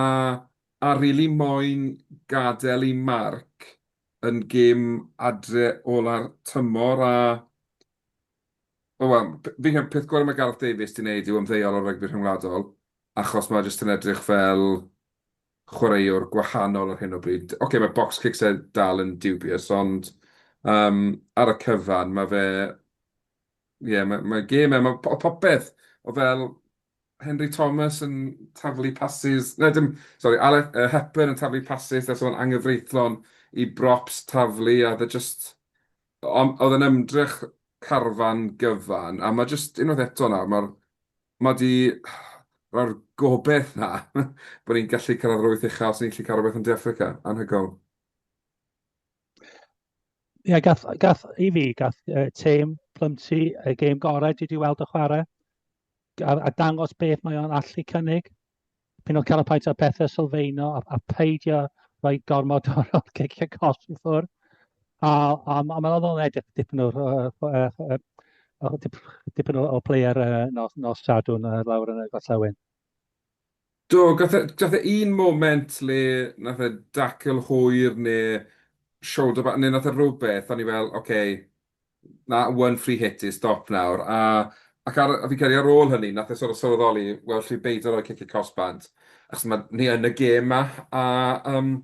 a rili moyn gadael eu marc yn gêm adre ola'r tymor a o wel, fi'n credu peth gorau mae Gareth Davies di wneud yw ymddeol o rygbi rhyngwladol achos mae jyst yn edrych fel chwaraewr gwahanol ar hyn o bryd. Ocê, okay, mae box kicks e dal yn dubious, ond um, ar y cyfan mae fe... Ie, yeah, mae, mae gêm e, mae popeth o fel Henry Thomas yn taflu pasys, na dim, sori, Alec uh, Hepburn yn taflu pasys nes o'n angyfreithlon i brops taflu a dda e just, oedd yn ymdrech carfan gyfan a mae just unwaith eto nawr, mae'r mae di rhoi'r gobeith na bod ni'n gallu cyrraedd yr wyth uchaf os ni'n gallu cael rhywbeth yn De Africa, anhygoel. Ie, yeah, gath, gath, i fi, gath uh, tîm Plymty y gêm gorau dwi wedi weld y chwarae. a, a dangos beth mae o'n allu cynnig. Pyn o carapaint ar pethau sylfaeno a, a peidio rhoi gormod o'r cicio cos i ffwrdd. A, a, a mae'n oddol edrych dipyn o'r dipyn o, o player uh, nos, nos sadwn uh, lawr yn y gorllewin. Do, gath e, e un moment le nath e dacl hwyr neu shoulder back, neu nath e rhywbeth, o'n i fel, oce, okay, Na, one free hit is stop nawr. A, ac ar, fi'n credu ar ôl hynny, nath e sort of sylweddoli, wel, lle beidio rhoi cic y cosb bant, achos ma, ni yn y gêm ma. A, um,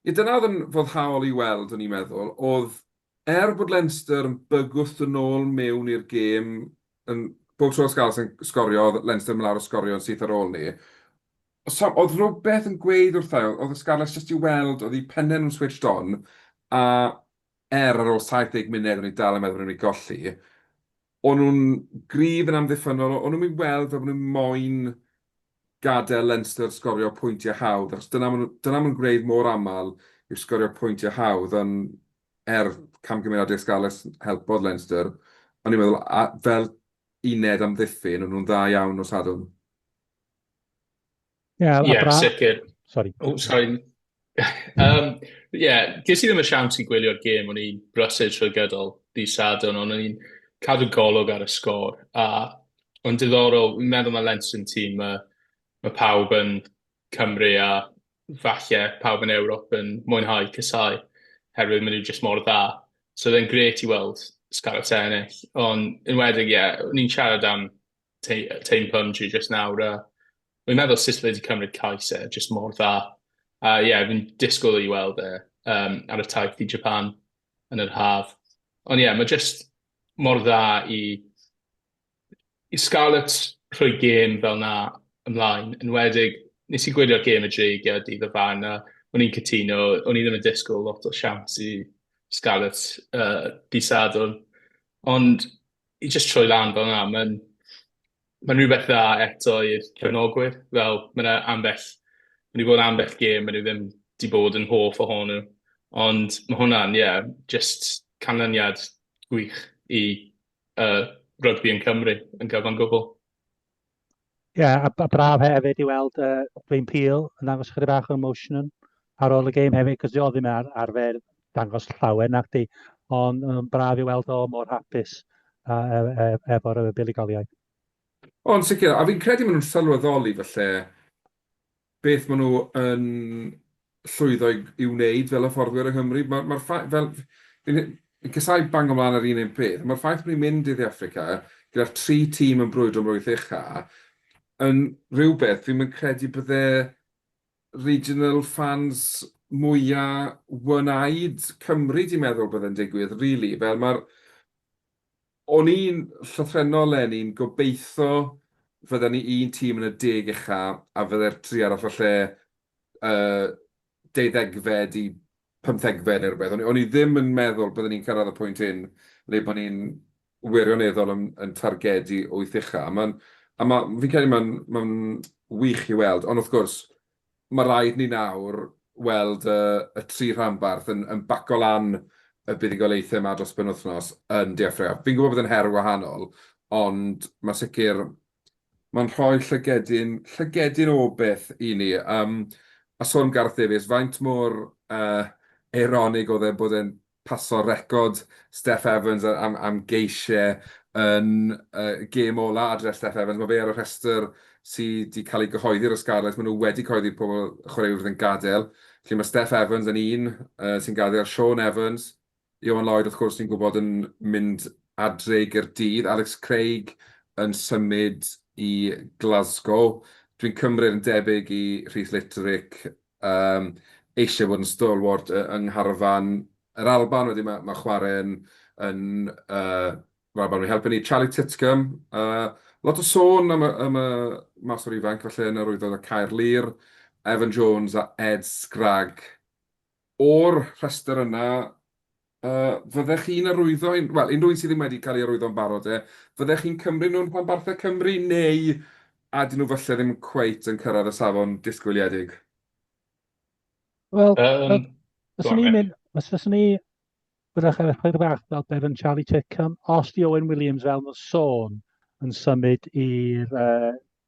ie, dyna oedd yn foddhaol i weld, o'n i'n meddwl, oedd er bod Leinster yn bygwth yn ôl mewn i'r gêm, yn, bob tro Scarlets yn sgorio, oedd Leinster yn lawr o sgorio yn syth ar ôl ni. So, oedd rhywbeth yn gweud wrthau, oedd y Scarlets jyst i weld, oedd i pennau nhw'n switched on, a Er, ar ôl 70 munud o'n i dal yn meddwl bod o'n mynd i golli. O'n nhw'n gryf yn amddiffynnol, o'n nhw'n mynd i weld fel bod nhw'n moyn gadael Leinster sgorio pwyntiau hawdd, achos dyna maen nhw'n nhw'n gwneud mor aml yw sgorio pwyntiau hawdd, ond er camgymeriad Des Gallus helpodd Leinster, o'n i'n meddwl fel uned amddiffyn o'n nhw'n dda iawn nos Sadwrn. Yeah, yeah, bra... sicr. Sorry. Oh, sorry. um, yeah, ges i ddim y siawns i gwylio'r gêm, o'n i'n brysur trwy gydol di Sadwn, ond o'n i'n cadw golwg ar y sgôr. A o'n diddorol, fi'n meddwl mae Lens yn tîm, mae, mae pawb yn Cymru a falle pawb yn Ewrop yn mwynhau cysau, herwydd maen nhw jyst mor dda. So oedd e'n gret i weld Scarlets ennill, ond yn wedyn, ie, yeah, ni'n siarad am te- yy teim punch i jyst nawr a wi'n meddwl sut fe 'di cymryd cais e jyst mor dda a ie fi'n disgwyl i weld e yym ar y taith i Japan yn yr haf ond ie ma' jyst mor dda i i Scarlets rhoi gêm fel 'na ymlaen enwedig nes i gwylio'r gêm y Dreigiau dydd o fan a o'n i'n cytuno o'n i ddim yn disgwyl lot o siawns i Scarlets yy dydd Sadwrn ond i jyst troi lan fel yna, mae'n ma rhywbeth dda eto i'r cefnogwyr. Fel, mae yna ambell, mae wedi bod ambell gêm, mae nhw ddim wedi bod yn hoff ohonyn nhw. Ond mae hwnna'n, ie, yeah, just canlyniad gwych i uh, rygbi yn Cymru yn gyfan gwbl. Ie, a, a braf hefyd i weld uh, Dwayne Peel yn dangos chydig bach o emotion ar ôl y game hefyd, cos oedd ddim ar, arfer dangos llawer nac di, ond um, braf i weld o mor hapus uh, e, e, efo'r buddugoliaeth. Ond sicr, a fi'n credu maen nhw'n sylweddoli falle beth maen nhw yn llwyddo i, i wneud fel hyfforddwyr yng Nghymru. Mae'r ma ffaith, fel, fi'n casau bango mlaen ar un un peth, mae'r ffaith bod ni'n mynd i Dde Affrica gyda'r tri tîm yn brwydro am rwyth ucha, yn rhywbeth fi'n mynd credu bydde regional fans mwyaf one-eyed Cymru di meddwl bydde'n digwydd, really. Fel mae'r O'n i'n llythrennol 'leni'n gobeitho fydden ni un tîm yn y deg ucha a fydde'r tri arall o lle y deuddegfed i pymthegfed neu rywbeth. O'n i ddim yn meddwl bydden ni'n cyrraedd y pwynt hyn le bod ni'n wirioneddol yn targedu wyth ucha. Fi'n credu mae'n wych i weld, ond wrth gwrs, mae rhaid ni nawr weld y y tri rhanbarth yn yn baco lan y buddugoliaethau 'ma dros y penwythnos yn De Affrica. Fi'n gwybod bod e'n her wahanol, ond mae'n sicr, mae'n rhoi llygedyn, llygedyn o beth i ni. Yym, a sôn am Gareth Davies, faint mor yy eironig oedd e bod e'n paso record Steff Evans am geisiau yn y gêm ola adre Steff Evans. Mae fe ar y rhestr sy 'di cael ei gyhoeddi ar y Scarlets. Maen nhw wedi cyhoeddi pobl y chwaraewyr fydd yn gadael. Felly mae Steff Evans yn un sy'n gadael, Shaun Evans, Ioan Lloyd wrth gwrs ni'n gwybod yn mynd adre i Gaerdydd, Alex Craig yn symud i Glasgow. Dwi'n cymryd yn debyg i Rhys Litterick yym eisiau bod yn stalwart yy yng ngharfan yr Alban. Wedyn ma' ma' chwarae yn yn yy yr Alban wedi helpu ni. Charlie Titcomb, yy lot o sôn am y am y maswr ifanc falle yn yr Wyddon a Caerlŷr, Evan Jones a Ed Scragg. O'r rhestr yna, Yy, fyddech chi'n arwyddo un-, wel, unrhyw un sydd ddim wedi cael ei arwyddo yn barod de, fyddech chi'n cymryd nhw'n rhanbarthau Cymru neu a 'dyn nhw falle ddim cweit yn cyrraedd y safon disgwyliedig? Wel, Yym, go fyswn on i'n Mick. mynd, os fyswn i, fyddech ar ychydig bach fel Bevan Charlie Chickham, os di Owen Williams fel ma'n sôn yn symud i'r yy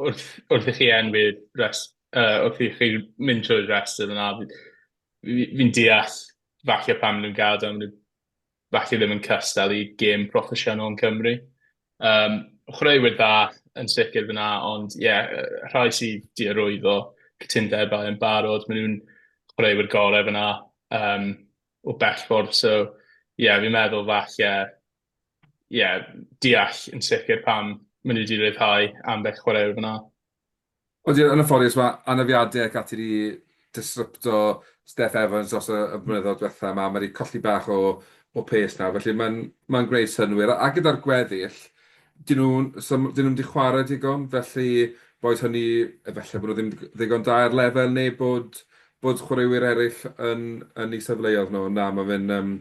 wrth wrth i chi enwi'r rhes- yy wrth i chi mynd trwy'r rhestr yna fi fi fi'n deall falle pam ma' nw'n ga'l do ma' nw falle ddim yn cystal i gêm proffesiynol yn Cymru. Yym chwaraewyr dda yn sicr fyn 'na ond ie yy rhai sy 'di arwyddo cytundebau yn barod ma' nw'n chwaraewyr gore fyn 'na yym o bell ffordd so ie fi'n meddwl falle ie, deall yn sicr pam maen nhw wedi rhyddhau ambell chwaraewr fan'na. Ond ie, yn anffodus, mae anafiadau ac ati wedi disrupto Steff Evans dros y blynyddoedd diwethaf 'ma. Mae 'di colli bach o o pês nawr, felly mae'n mae'n gwneud synnwyr. A a gyda'r gweddill, 'dyn nhw so 'dyn nhw'm 'di chwarae digon, felly boed hynny efallai bod nhw ddim ddigon da ar lefel neu bod bod chwaraewyr eraill yn yn eu safleoedd nhw. Na, mae fe'n yym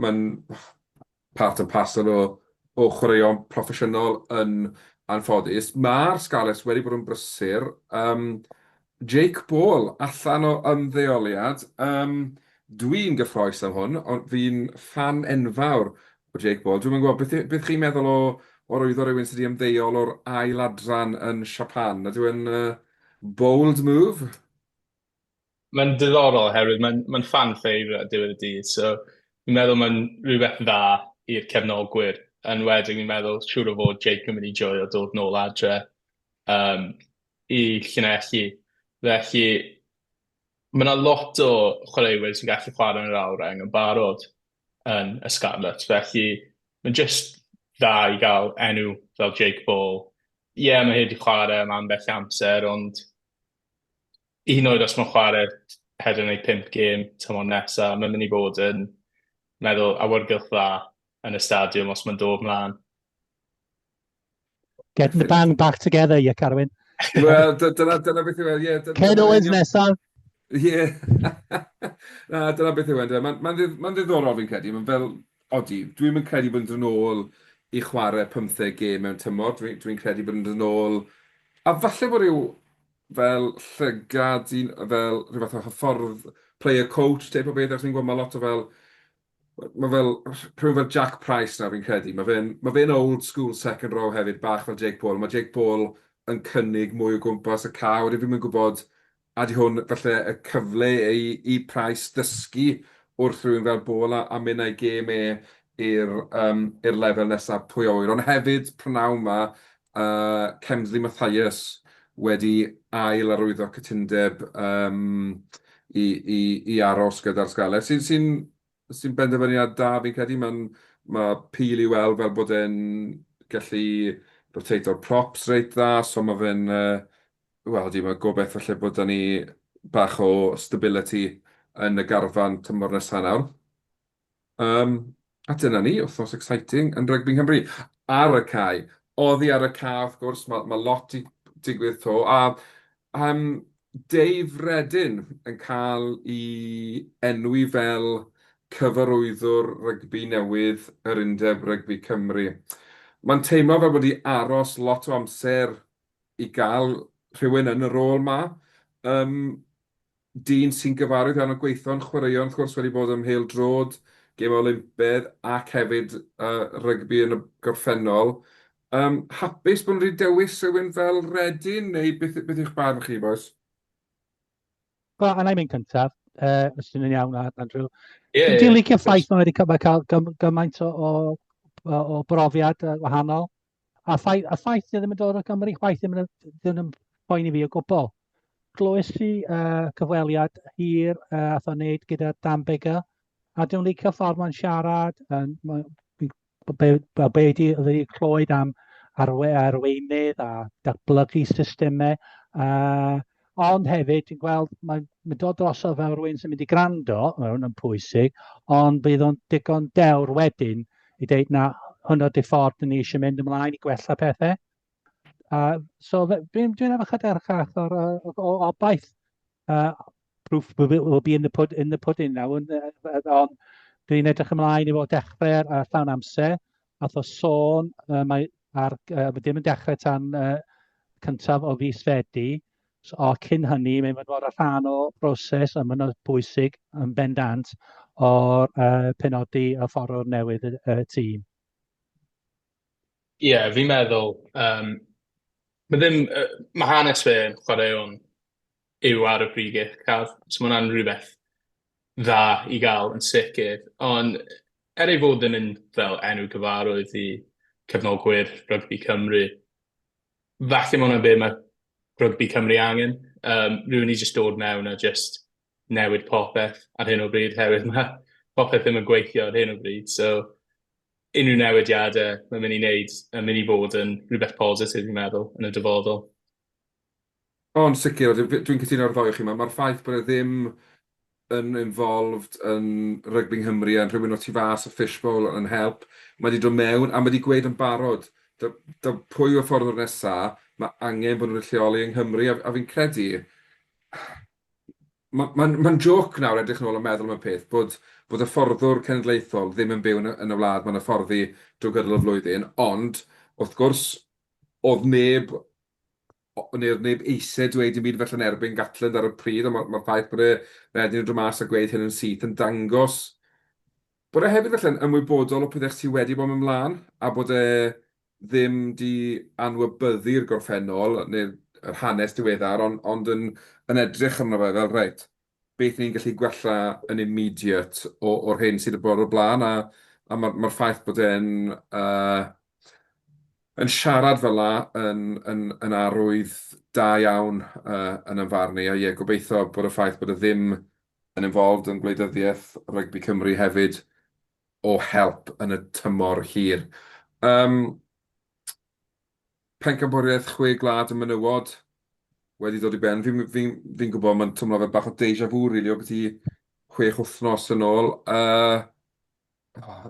mae'n part and parcel o o chwaraeon proffesiynol yn anffodus. Ma'r Scarlets wedi bod yn brysur. Yym Jake Ball allan o ymddeoliad. Yym dwi'n gyffrous am hwn ond fi'n ffan enfawr o Jake Ball. Dwi'm yn gwybod beth beth chi'n meddwl o o rwyddo rhywun sydd wedi ymddeol o'r ail adran yn Siapan. Ydyw e'n yy bold move? Mae'n ddiddorol oherwydd mae'n mae'n fan favourite ar diwedd y dydd, so fi'n meddwl mae'n rhywbeth dda i'r cefnogwyr, yn enwedig fi'n meddwl siŵr o fod Jake yn mynd i joio dod nôl adre yym i Llanelli. Felly ma' 'na lot o chwaraewyr sy'n gallu chwarae yn yr awyr-reng yn barod yn y Scarlets, felly mae'n jyst dda i gael enw fel Jake Ball. Ie, mae e wedi chwarae am ambell amser, ond hyd yn oed os maen nhw'n chwarae pedwar neu pump gêm tymor nesa, mae'n mynd i fod yn meddwl awyrgylch dda yn y stadiwm os mae'n dod mlaen. Getting the band back together, ie, Carwyn. Wel, dyna, dyna beth yw e, ie. Ken Owens nesaf. Ie. Na, dyna beth yw e, Mae'n ma, ma ddiddorol fi'n credu. Mae'n fel, Odi, dwi ddim yn credu bod yn dod nôl i chwarae pymtheg gêm mewn tymor, dwi'n dwi credu bod yn dod nôl, a falle bod rhyw fel llygad, un, fel rhyw fath o hyffordd player coach, teip o beth, achos ni'n gwybod mae lot o fel, mae fel, rhyw fel Jack Price nawr fi'n credu, mae fe'n ma fe old school second row hefyd, bach fel Jake Paul, mae Jake Paul yn cynnig mwy o gwmpas y cae, wedyn fi'n mynd gwybod A ydy hwn falle y cyfle i i Price ddysgu wrth rywun fel Ball a a mynd a'i gêm e i'r yym i'r lefel nesa pwy a ŵyr. Ond hefyd prynawn ma' yy Kemsley Mathias wedi ail arwyddo cytundeb yym i i i aros gyda'r Scarlets sy'n sy'n sy'n benderfyniad da fi'n credu. Mae'n... mae Peel i weld fel bod e'n gallu rotato'r props reit dda, so mae fe'n yy wel odi mae gobeith falle bod 'da ni bach o stability yn y garfan tymor nesa nawr. Yym a dyna ni, wythnos exciting yn rygbi Nghymru. Ar y cae! Oddi ar y cae wrth gwrs, ma' ma' lot 'di digwydd 'to a yym Dave Reddin yn cael i enwi fel cyfarwyddwr rygbi newydd yr Undeb Rygbi Cymru. Mae'n teimlo fel bod wedi aros lot o amser i gael rhywun yn y rôl 'ma. Yym, dyn sy'n gyfarwydd iawn â gweithio'n chwaraeon wrth gwrs, wedi bod ym mhêl-droed, gêmau Olympedd ac hefyd yy rygbi yn y gorffennol. Yym, hapus bod nhw wedi dewis rhywun fel Reading, neu beth, beth yw'ch barn chi, bois? Wel, a na i mynd cyntaf, uh, os ti'n yn iawn, Andrew. Yeah, Dwi'n yeah, licio yeah. ffaith mae wedi cael gymaint o, o, o brofiad wahanol. A ffaith, a ffaith dwi ddim yn dod o Gymru, chwaith ddim yn, ddim yn boen i fi o gwbl. Glywes i uh, cyfweliad hir uh, a thon wneud gyda Dan Bigger, a dwi'n licio ffordd mae'n siarad, uh, be, be, be ydy, ydy clywed am arwe, arweinydd a datblygu systemau. Uh, ond hefyd, ti'n gweld, mae'n ma dod drosodd fel rhywun sy'n mynd i grando, mae hwn yn pwysig, ond bydd o'n digon dewr wedyn i ddeud na hwnnw di ffordd ni eisiau mynd ymlaen i gwella pethau. Uh, so dwi'n dwi efo chyda'r chach o'r, o'r, o'r obaith uh, proof will be, will be in, the pud, in the pudding now, and, uh, on, dwi'n edrych ymlaen i fod dechrau ar, ar llawn amser, a tho sôn, uh, mae ar, uh, ddim yn dechrau tan uh, cyntaf o fis fedi, so, o cyn hynny, mae'n mynd fod ar rhan o broses a mae'n bwysig yn bendant o'r uh, penodi a fforwr newydd y, y tîm. Ie, yeah, fi'n meddwl, um, mae ddim, uh, mae hanes fe yn chwaraeon yw ar y pryd gic car. So mae hwnna'n rhywbeth dda i gael yn sicr. Ond er ei fod yn un fel enw gyfarwydd i cefnogwyr rygbi Cymru, falle mae hwnna'n be mae rygbi Cymru angen. Um, rhywun i jyst dod mewn a jyst newid popeth ar hyn o bryd, herwydd mae popeth ddim yn gweithio ar hyn o bryd. So, unrhyw newidiadau mae'n mynd i wneud yn mynd i fod yn rhywbeth positif, fi'n meddwl, yn y dyfodol. O, yn sicr, a dwi dwi'n cytuno ar y ddou o chi. Mae'r ffaith bod e ddim yn involved yn rygbi Nghymru a'n rhywun o tu fas y fishbowl yn help. Mae wedi dod mewn a mae wedi gweud yn barod, da, da, pwy yw'r ffordd o'r nesaf, mae angen bod nhw'n wedi lleoli yng Nghymru, a, a fi'n credu... Mae'n ma, ma joc nawr edrych yn ôl a meddwl am y peth bod, bod y fforddwr cenedlaethol ddim yn byw yn y, yn y wlad mae'n hyfforddi drwy gydol y flwyddyn, ond wrth gwrs oedd neb neu'r neb eisiau dweud dim byd felly yn erbyn Gatland ar y pryd, ond mae'r ffaith bod e wedyn yn dod mas a gweud hyn yn syth yn dangos bod e hefyd felly'n ymwybodol o pethau sydd wedi bod yn ymlaen a bod e ddim di anwybyddu'r gorffennol neu'r hanes diweddar ond, ond yn, yn edrych arno fe fel reit, beth ni'n gallu gwella yn immediate o, o'r hyn sydd wedi bod o'r blaen, a, a mae'r ma ffaith bod e'n uh, yn siarad fel la yn, yn, yn arwydd da iawn uh, yn ymfarn i, a ie, gobeithio bod y ffaith bod e ddim yn involved yn gwleidyddiaeth rygbi Cymru hefyd o help yn y tymor hir. Um, Pencampwriaeth Chwe Gwlad y Menywod wedi dod i ben. Fi'n fi, fi gwybod mae'n twmlo fel bach o deja vu, rili, really, o beth i chwech wythnos yn ôl. Uh, oh,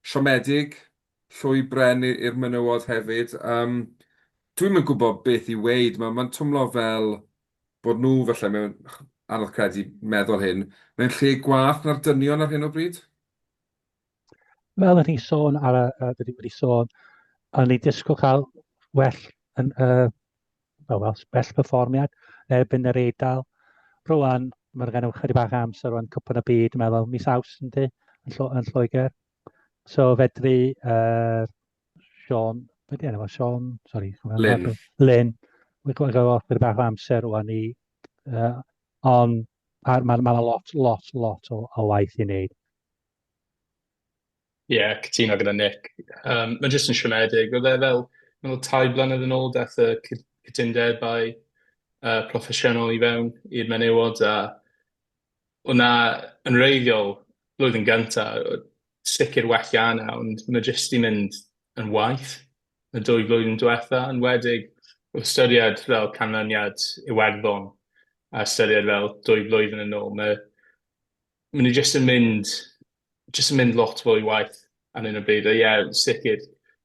siomedig, llwy bren i'r menywod hefyd. Um, Dwi'n mynd gwybod beth i weid, mae'n ma twmlo fel bod nhw felly mewn anodd credu meddwl hyn, mewn lle gwath na'r dynion ar hyn o bryd. fel o'n i'n sôn ar y, uh, dwi wedi sôn, o'n i'n disgwyl cael well, yn, uh, well, well, well perfformiad erbyn yr Eidal. Rwan, mae'n rhaid gennym chydig bach amser rwan cwpan y byd, dwi'n meddwl, mis aws yn di, yn, llo, yn Lloegr. So fedru uh, Sean, beth yna fo, Sean, sorry, Lynn. Lynn, mae'n gwneud off gyda bach amser rwan i, uh, ond mae'n ma, ma lot, lot, lot o, o waith i wneud. Ie, cytuno gyda Nick. Yym, mae jyst yn siomedig. Oedd e fel, meddwl, tair blynedd yn ôl, daeth y cy- cytundebau yy proffesiynol i fewn i'r menywod, a oedd 'na yn wreiddiol, blwyddyn gynta, oedd sicr well 'da hynna, ond mae jyst 'di mynd yn waeth y dwy flwyddyn diwetha', yn enwedig wrth ystyried fel canlyniad Iwerddon, a ystyried fel dwy flwyddyn yn ôl, mae Maen nhw jyst yn mynd... jyst yn mynd lot fwy waeth ar hyn o bryd. A ie, sicr,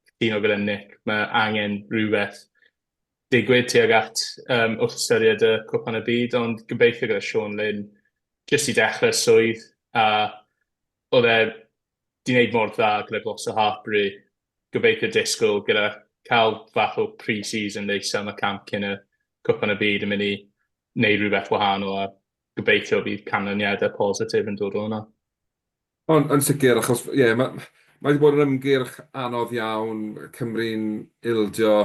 cytuno gyda Nick, mae angen rhywbeth digwydd tuag at um, wrth ystyried y Cwpan y Byd, ond gobeithio gyda Sean Lynn, jyst i dechrau swydd, a oedd e di wneud mor dda gyda Gloucester Hartbury, gobeithio disgwyl gyda cael fath o pre-season neis am y camp cyn y Cwpan y Byd yn mynd i wneud rhywbeth wahanol a gobeithio bydd canlyniadau positif yn dod o hwnna. Ond yn sicr, achos ie, yeah, mae mae wedi bod yn ymgyrch anodd iawn, Cymru'n ildio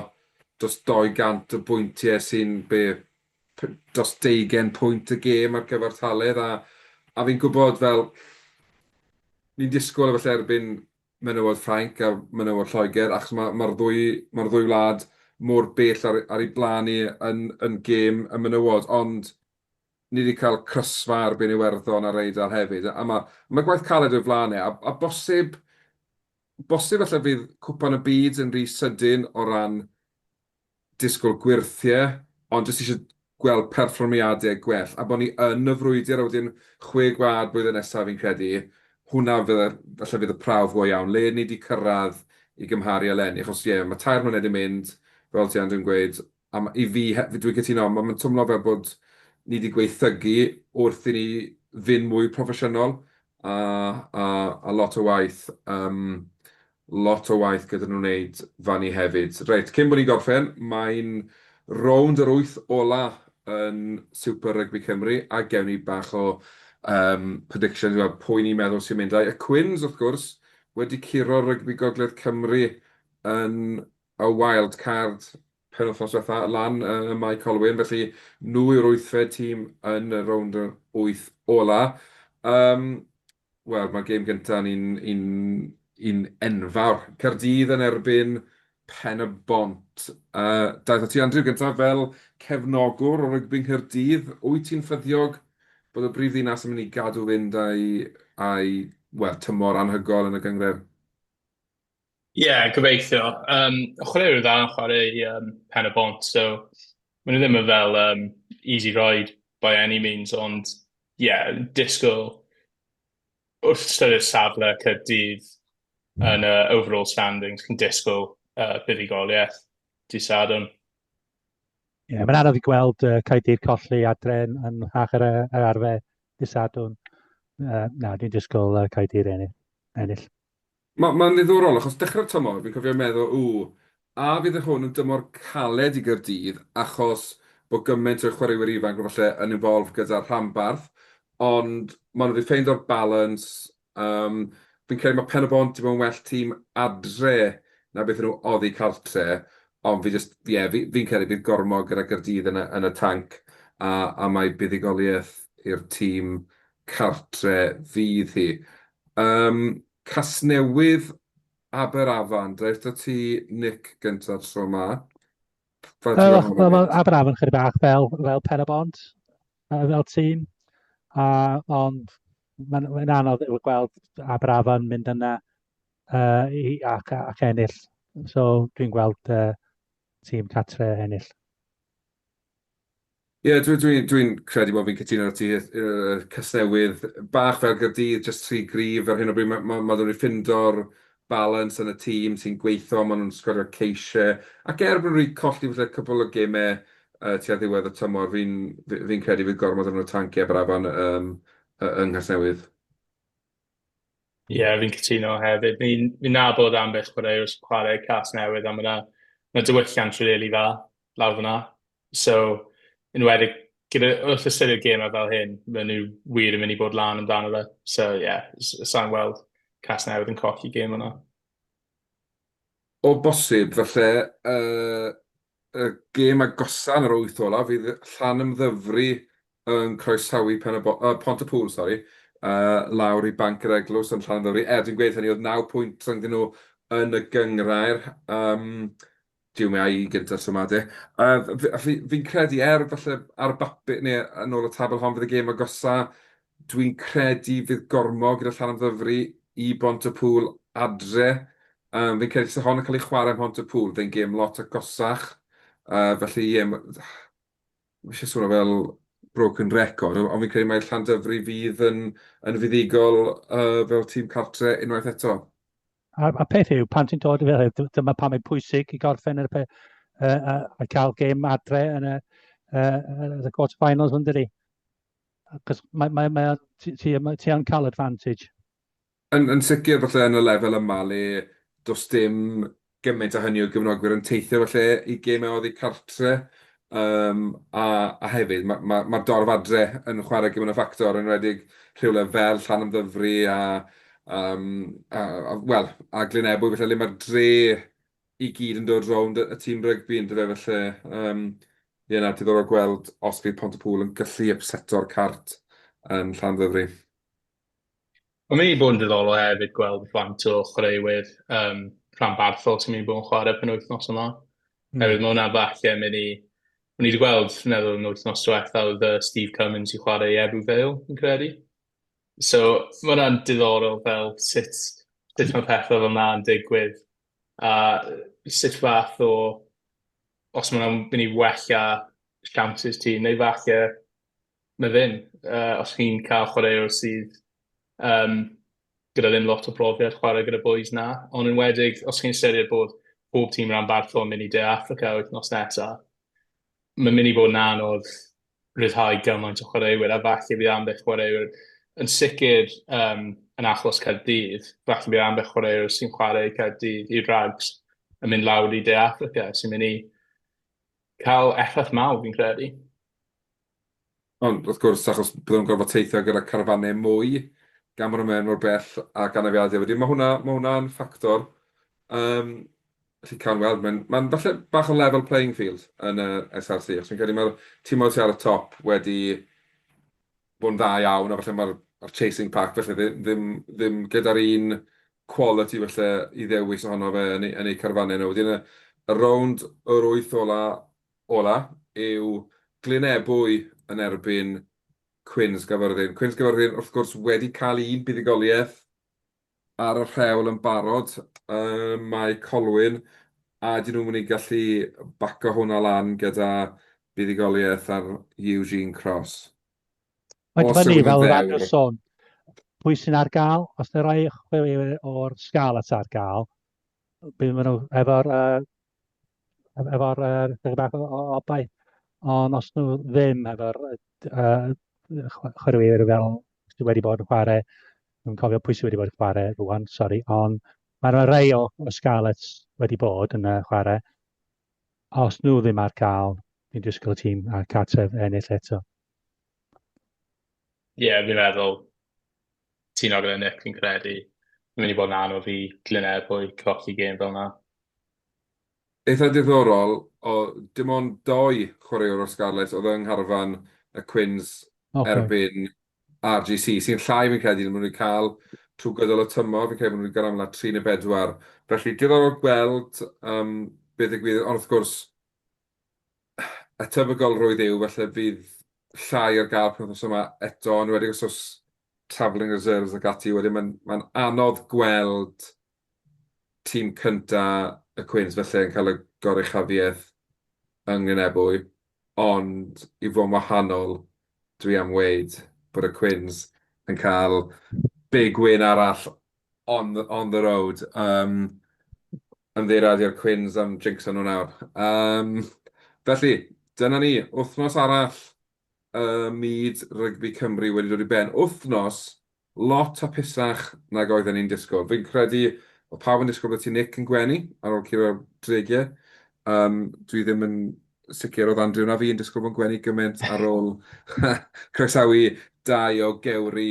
dros 200 o bwyntiau sy'n be, dros 20 pwynt y gêm ar gyfartaledd, a, a fi'n gwybod fel, ni'n disgwyl efallai erbyn menywod Ffrainc a menywod Lloegr, achos mae'r ma, ddwy, ma ddwy wlad mor bell ar, ar ei blaen ni yn, yn gêm y menywod, ond Ni 'di cael crysfa ar bin Iwerddon ar Eidal hefyd, a ma, ma gwaith caled o'i flan e, a, a bosib, bosib falle fydd Cwpan y Byd yn rhy sydyn o ran disgwyl gwyrthie, ond jyst eisiau gweld perfformiadau gwell, a bod ni yn y frwydr, a wedyn Chwe Gwlad blwyddyn nesaf fi'n credu, hwnna fydde, falle fydd y prawf go iawn, le ni 'di cyrraedd i gymharu eleni, achos ie, ma tair mlynedd 'di mynd, fel ti Andrew yn gweud, A ma- i fi he- fi dwi'n cytuno, ma' ma'n twmlo fel bod ni 'di gwaethygu wrth i ni fyn' mwy proffesiynol, a a a lot o waith yym lot o waith gyda nw neud fan 'ny hefyd. Reit, cyn bo' ni'n gorffen, mae'n rownd yr wyth ola yn Super Rugby Cymru, a gewn ni bach o yym predictions i weld pwy ni'n meddwl sy'n mynd. Ai y Quins, wrth gwrs, wedi curo'r rygbi gogledd Cymru yn y wild card penwythnos diwetha lan ym Mae Colwyn, felly nhw yw'r wythfed tîm yn y rownd yr wyth ola. Yym, wel, mae'r gêm gynta yn un un un enfawr. Caerdydd yn erbyn Pen-y-bont. Yy, daeth at ti Andrew gynta fel cefnogwr o rygbi Nghaerdydd, wyt ti'n ffyddiog bod y brif ddinas yn mynd i gadw fynd a'i a'i, wel, tymor anhygoel yn y gynghrair? Ie, gobeithio. Yym, chwaraewyr dda yn chwarae i yym, Pen y Bont, so maen nhw ddim yn fel um, easy ride by any means, ond ie, yeah, disgwyl wrth ystyried safle Caerdydd yn y overall standings, cyn disgwyl uh, buddugoliaeth di Sadwn. Ie, yeah, mae'n anodd i gweld uh, Caerdydd colli adren yn hach ar, ar arfer di Sadwn. Uh, na, dwi'n disgwyl uh, Caerdydd ennill. Mae, mae'n ddiddorol, achos dechrau'r tymor, fi'n cofio meddwl, ww, a fydd hwn yn dymor caled i Gaerdydd, achos bod gymaint o chwaraewyr ifanc falle yn involved gyda'r rhanbarth, ond maen nhw wedi ffeindio'r balance, um, fi'n credu mae Pen-y-bont i fod yn well tîm adre na beth nhw oddi cartre, ond fi jyst, ie, yeah, fi'n fi credu bydd gormod gyda Gaerdydd yn y, yn y tanc, a, a mae buddugoliaeth i'r tîm cartre fydd hi. Yym Casnewydd Aberafan daeth da ti Nick gynta tro ma. Aberafan chydig bach fel fel pen y bont fel tîm a ond mae'n mae'n anodd i'w gweld Aberafan mynd yna uh, i, ac, ac ennill. So dwi'n gweld uh, tîm catre ennill. Ie, dwi, dwi, dwi'n credu bod fi'n cytuno ar ti, uh, Casnewydd, bach fel Gyrdydd, just tri grif ar hyn o bryd, mae ma, ma nhw'n ffindo'r balans yn y tîm sy'n gweithio, maen nhw'n sgorio ceisiau, ac er bod nhw wedi colli falle cwbl o gemau uh, tua ddiwedd y tymor, fi'n fi, fi credu fydd gormod o'n tanc i Aberafan um, yng Nghasnewydd. Ie, yeah, fi'n cytuno hefyd. Fi'n fi nabod ambell chwaraewr sy'n chwarae Cas Newydd a mae yna ma dywylliant rili really dda lawr fan'na. So, yn enwedig gyda... wrth ystyried gemau fel hyn, maen nhw wir yn mynd i bod lan amdano fe. So, ie, yeah, sa i'n weld Casnewydd yn colli gêm yna. O bosib, felly, uh, y gêm agosa yn yr wyth olaf fydd Llanymddyfri yn croesawu Pen y Bo uh, Pont y Pŵl, sori, uh, lawr i Banc yr Eglwys yn Llanymddyfri. Er, dwi'n gweud hynny, oedd 9 pwynt rhwng nhw yn y gyngrair. Um, Duw mae ai i gynta so ma de. Yy fi fi'n credu er falle ar bapur ne' yn ôl y tabl hon fydd y gêm agosa dwi'n credu fydd Gormo gyda Llanymddyfri i Bontepŵl adre yym fi'n credu tase hon yn ca'l ei chware ym Mhontepŵl fe'n gêm lot agosach yy felly ie ma' ma' isie swnio fel broken record on' fi'n credu mai Llandyfri fydd yn yn fuddugol yy fel tîm cartre unwaith eto. A'r, a'r peth yw, pan ti'n dod i fel hyn, dyma pam mae'n pwysig i gorffen yr, uh, uh, a cael gêm adre yn y, uh, yn y quarter finals yn dydi. Cos mae, mae, mae, ti, ti, ti am cael advantage. Yn, yn sicr, falle yn y lefel yma le does dim gymaint a hynny o gyfnogwyr yn teithio falle i gemau oddi cartre. Yym, a, a hefyd, mae'r ma, ma dorf adre yn chwarae gymryd y ffactor, yn rhedeg rhywle fel Llan Ymddyfri a, um, a, a, well, a Glyn Ebwy, felly le mae'r dre i gyd yn dod rownd y, y tîm rygbi yn dyfe, felly, um, ie na, diddorol gweld os bydd Pont y Pŵl yn gallu upseto'r cart yn Llan Ymddyfri. Mae'n mynd i bod yn ddiddorol hefyd gweld faint o chwaraewyr um, rhanbarthol sy'n mynd i bod yn chwarae pen wythnos yma. Mm. Hefyd, mae hwnna falle mynd i... O'n i wedi gweld, fi'n meddwl, yn wythnos diwetha, oedd uh, Steve Cummins i chwarae i Ebu Vale, yn credu. So, mae hwnna'n diddorol fel sut, sut mae pethau fel na'n digwydd. A sut fath o... Os mae'n mynd i wella chances ti, neu falle na ddim. Uh, os chi'n cael chwaraewr sydd um, gyda ddim lot o brofiad chwarae gyda boys na, ond yn wedig os chi'n ystyried bod pob tîm rhan bartho yn mynd i De Africa wythnos nesaf, mae'n mynd i fod yn anodd rhyddhau gymaint o chwaraewyr a falle bydd ambell chwaraewyr yn sicr um, yn achos Caerdydd, falle bydd ambell chwaraewyr sy'n chwarae Caerdydd i rags yn mynd lawr i De Africa sy'n mynd i cael effaith mawr fi'n credu. Ond, wrth gwrs, achos bydden nhw'n gorfod teithio gyda carafannau mwy, gan bod nhw'n mynd mor bell ac anafiadau wedyn. Mae hwnna, mae hwnna yn ffactor. Yym, felly cawn weld. Mae'n, mae'n falle bach o level playing field yn y SRC, achos fi'n credu mae'r timoedd sy ar y top wedi bod yn dda iawn, a falle mae'r a'r chasing pack falle ddim, ddim, ddim gyda'r un quality falle i ddewis ohono fe yn eu, yn eu carfannau nhw. Wedyn y, y rownd yr wyth ola, ola yw Glyn-ebwy yn erbyn Quins Gafyrddin. Quins Gafyrddin wrth gwrs wedi cael un buddugoliaeth ar y rhewl yn barod ym Mae Colwyn a ydyn nhw'n mynd i gallu baco hwnna lan gyda buddugoliaeth ar Eugene Cross? Mae'n dibynnu fel yr arfer sôn pwy sy'n ar gael, os na rhoi chwilio o'r sgal at ar gael, bydd maen nhw efo'r uh, efo'r uh, chydig bach o obaith, ond os nhw ddim efo'r uh, chwaraewyr fel sydd wedi bod yn chwarae, dwi'n cofio pwy sydd wedi bod yn chwarae rwan, sori, ond mae yna rei o, o Scarlets wedi bod yn uh, chwarae. Os nhw ddim ar gael, dwi'n disgwyl y tîm a cartref ennill eto. Ie, yeah, fi'n meddwl cytuno gyda Nick fi'n credu mae'n mynd i fod yn anodd i Glynebwy colli gêm fel yna. Eitha diddorol, oedd dim ond dou chwaraewr o'r Scarlets oedd yng ngharfan y Quins erbyn RGC, sy'n llai fi'n credu na maen nhw wedi cael trwy gydol y tymor, fi'n credu bod nhw wedi cael amlaf tri neu bedwar. Felly diddorol gweld beth ddigwydd, ond wrth gwrs y tebygolrwydd yw falle fydd llai ar gael penwythnos yma eto, yn enwedig os oes travelling reserves ac ati, wedyn mae'n mae'n anodd gweld tîm cynta y Cwins falle yn cael y goruchafiaeth yng Nglynebwy, ond i fod yn wahanol dwi am weud bod y Cwins yn cael big win arall on the on the road yym ymddiheuriadu i'r cwins am jinxo nhw nawr yym felly dyna ni, wythnos arall y myd rygbi Cymru wedi dod i ben, wythnos lot hapusach nag oedden ni'n disgwyl. Fi'n credu oedd pawb yn disgwyl bod ti Nick yn gwenu ar ôl curo Tregear yym dwi ddim yn sicr oedd Andrew na fi yn disgwyl bod yn gwenu gymaint ar ôl croesawu dau o gewri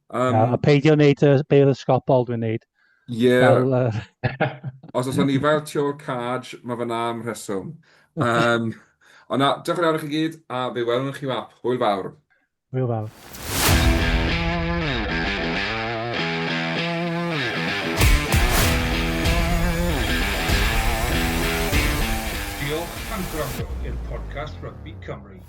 Um, a, a peidio wneud y beil ysgopol dwi'n wneud. Ie. Yeah. Os oes ni fel tiol caj, mae fy nam rheswm. Um, ond na, diolch yn fawr i chi gyd, a fe welwn chi wap. Hwyl fawr. Hwyl fawr. Diolch am gwrando i'r podcast Rugby Cymru.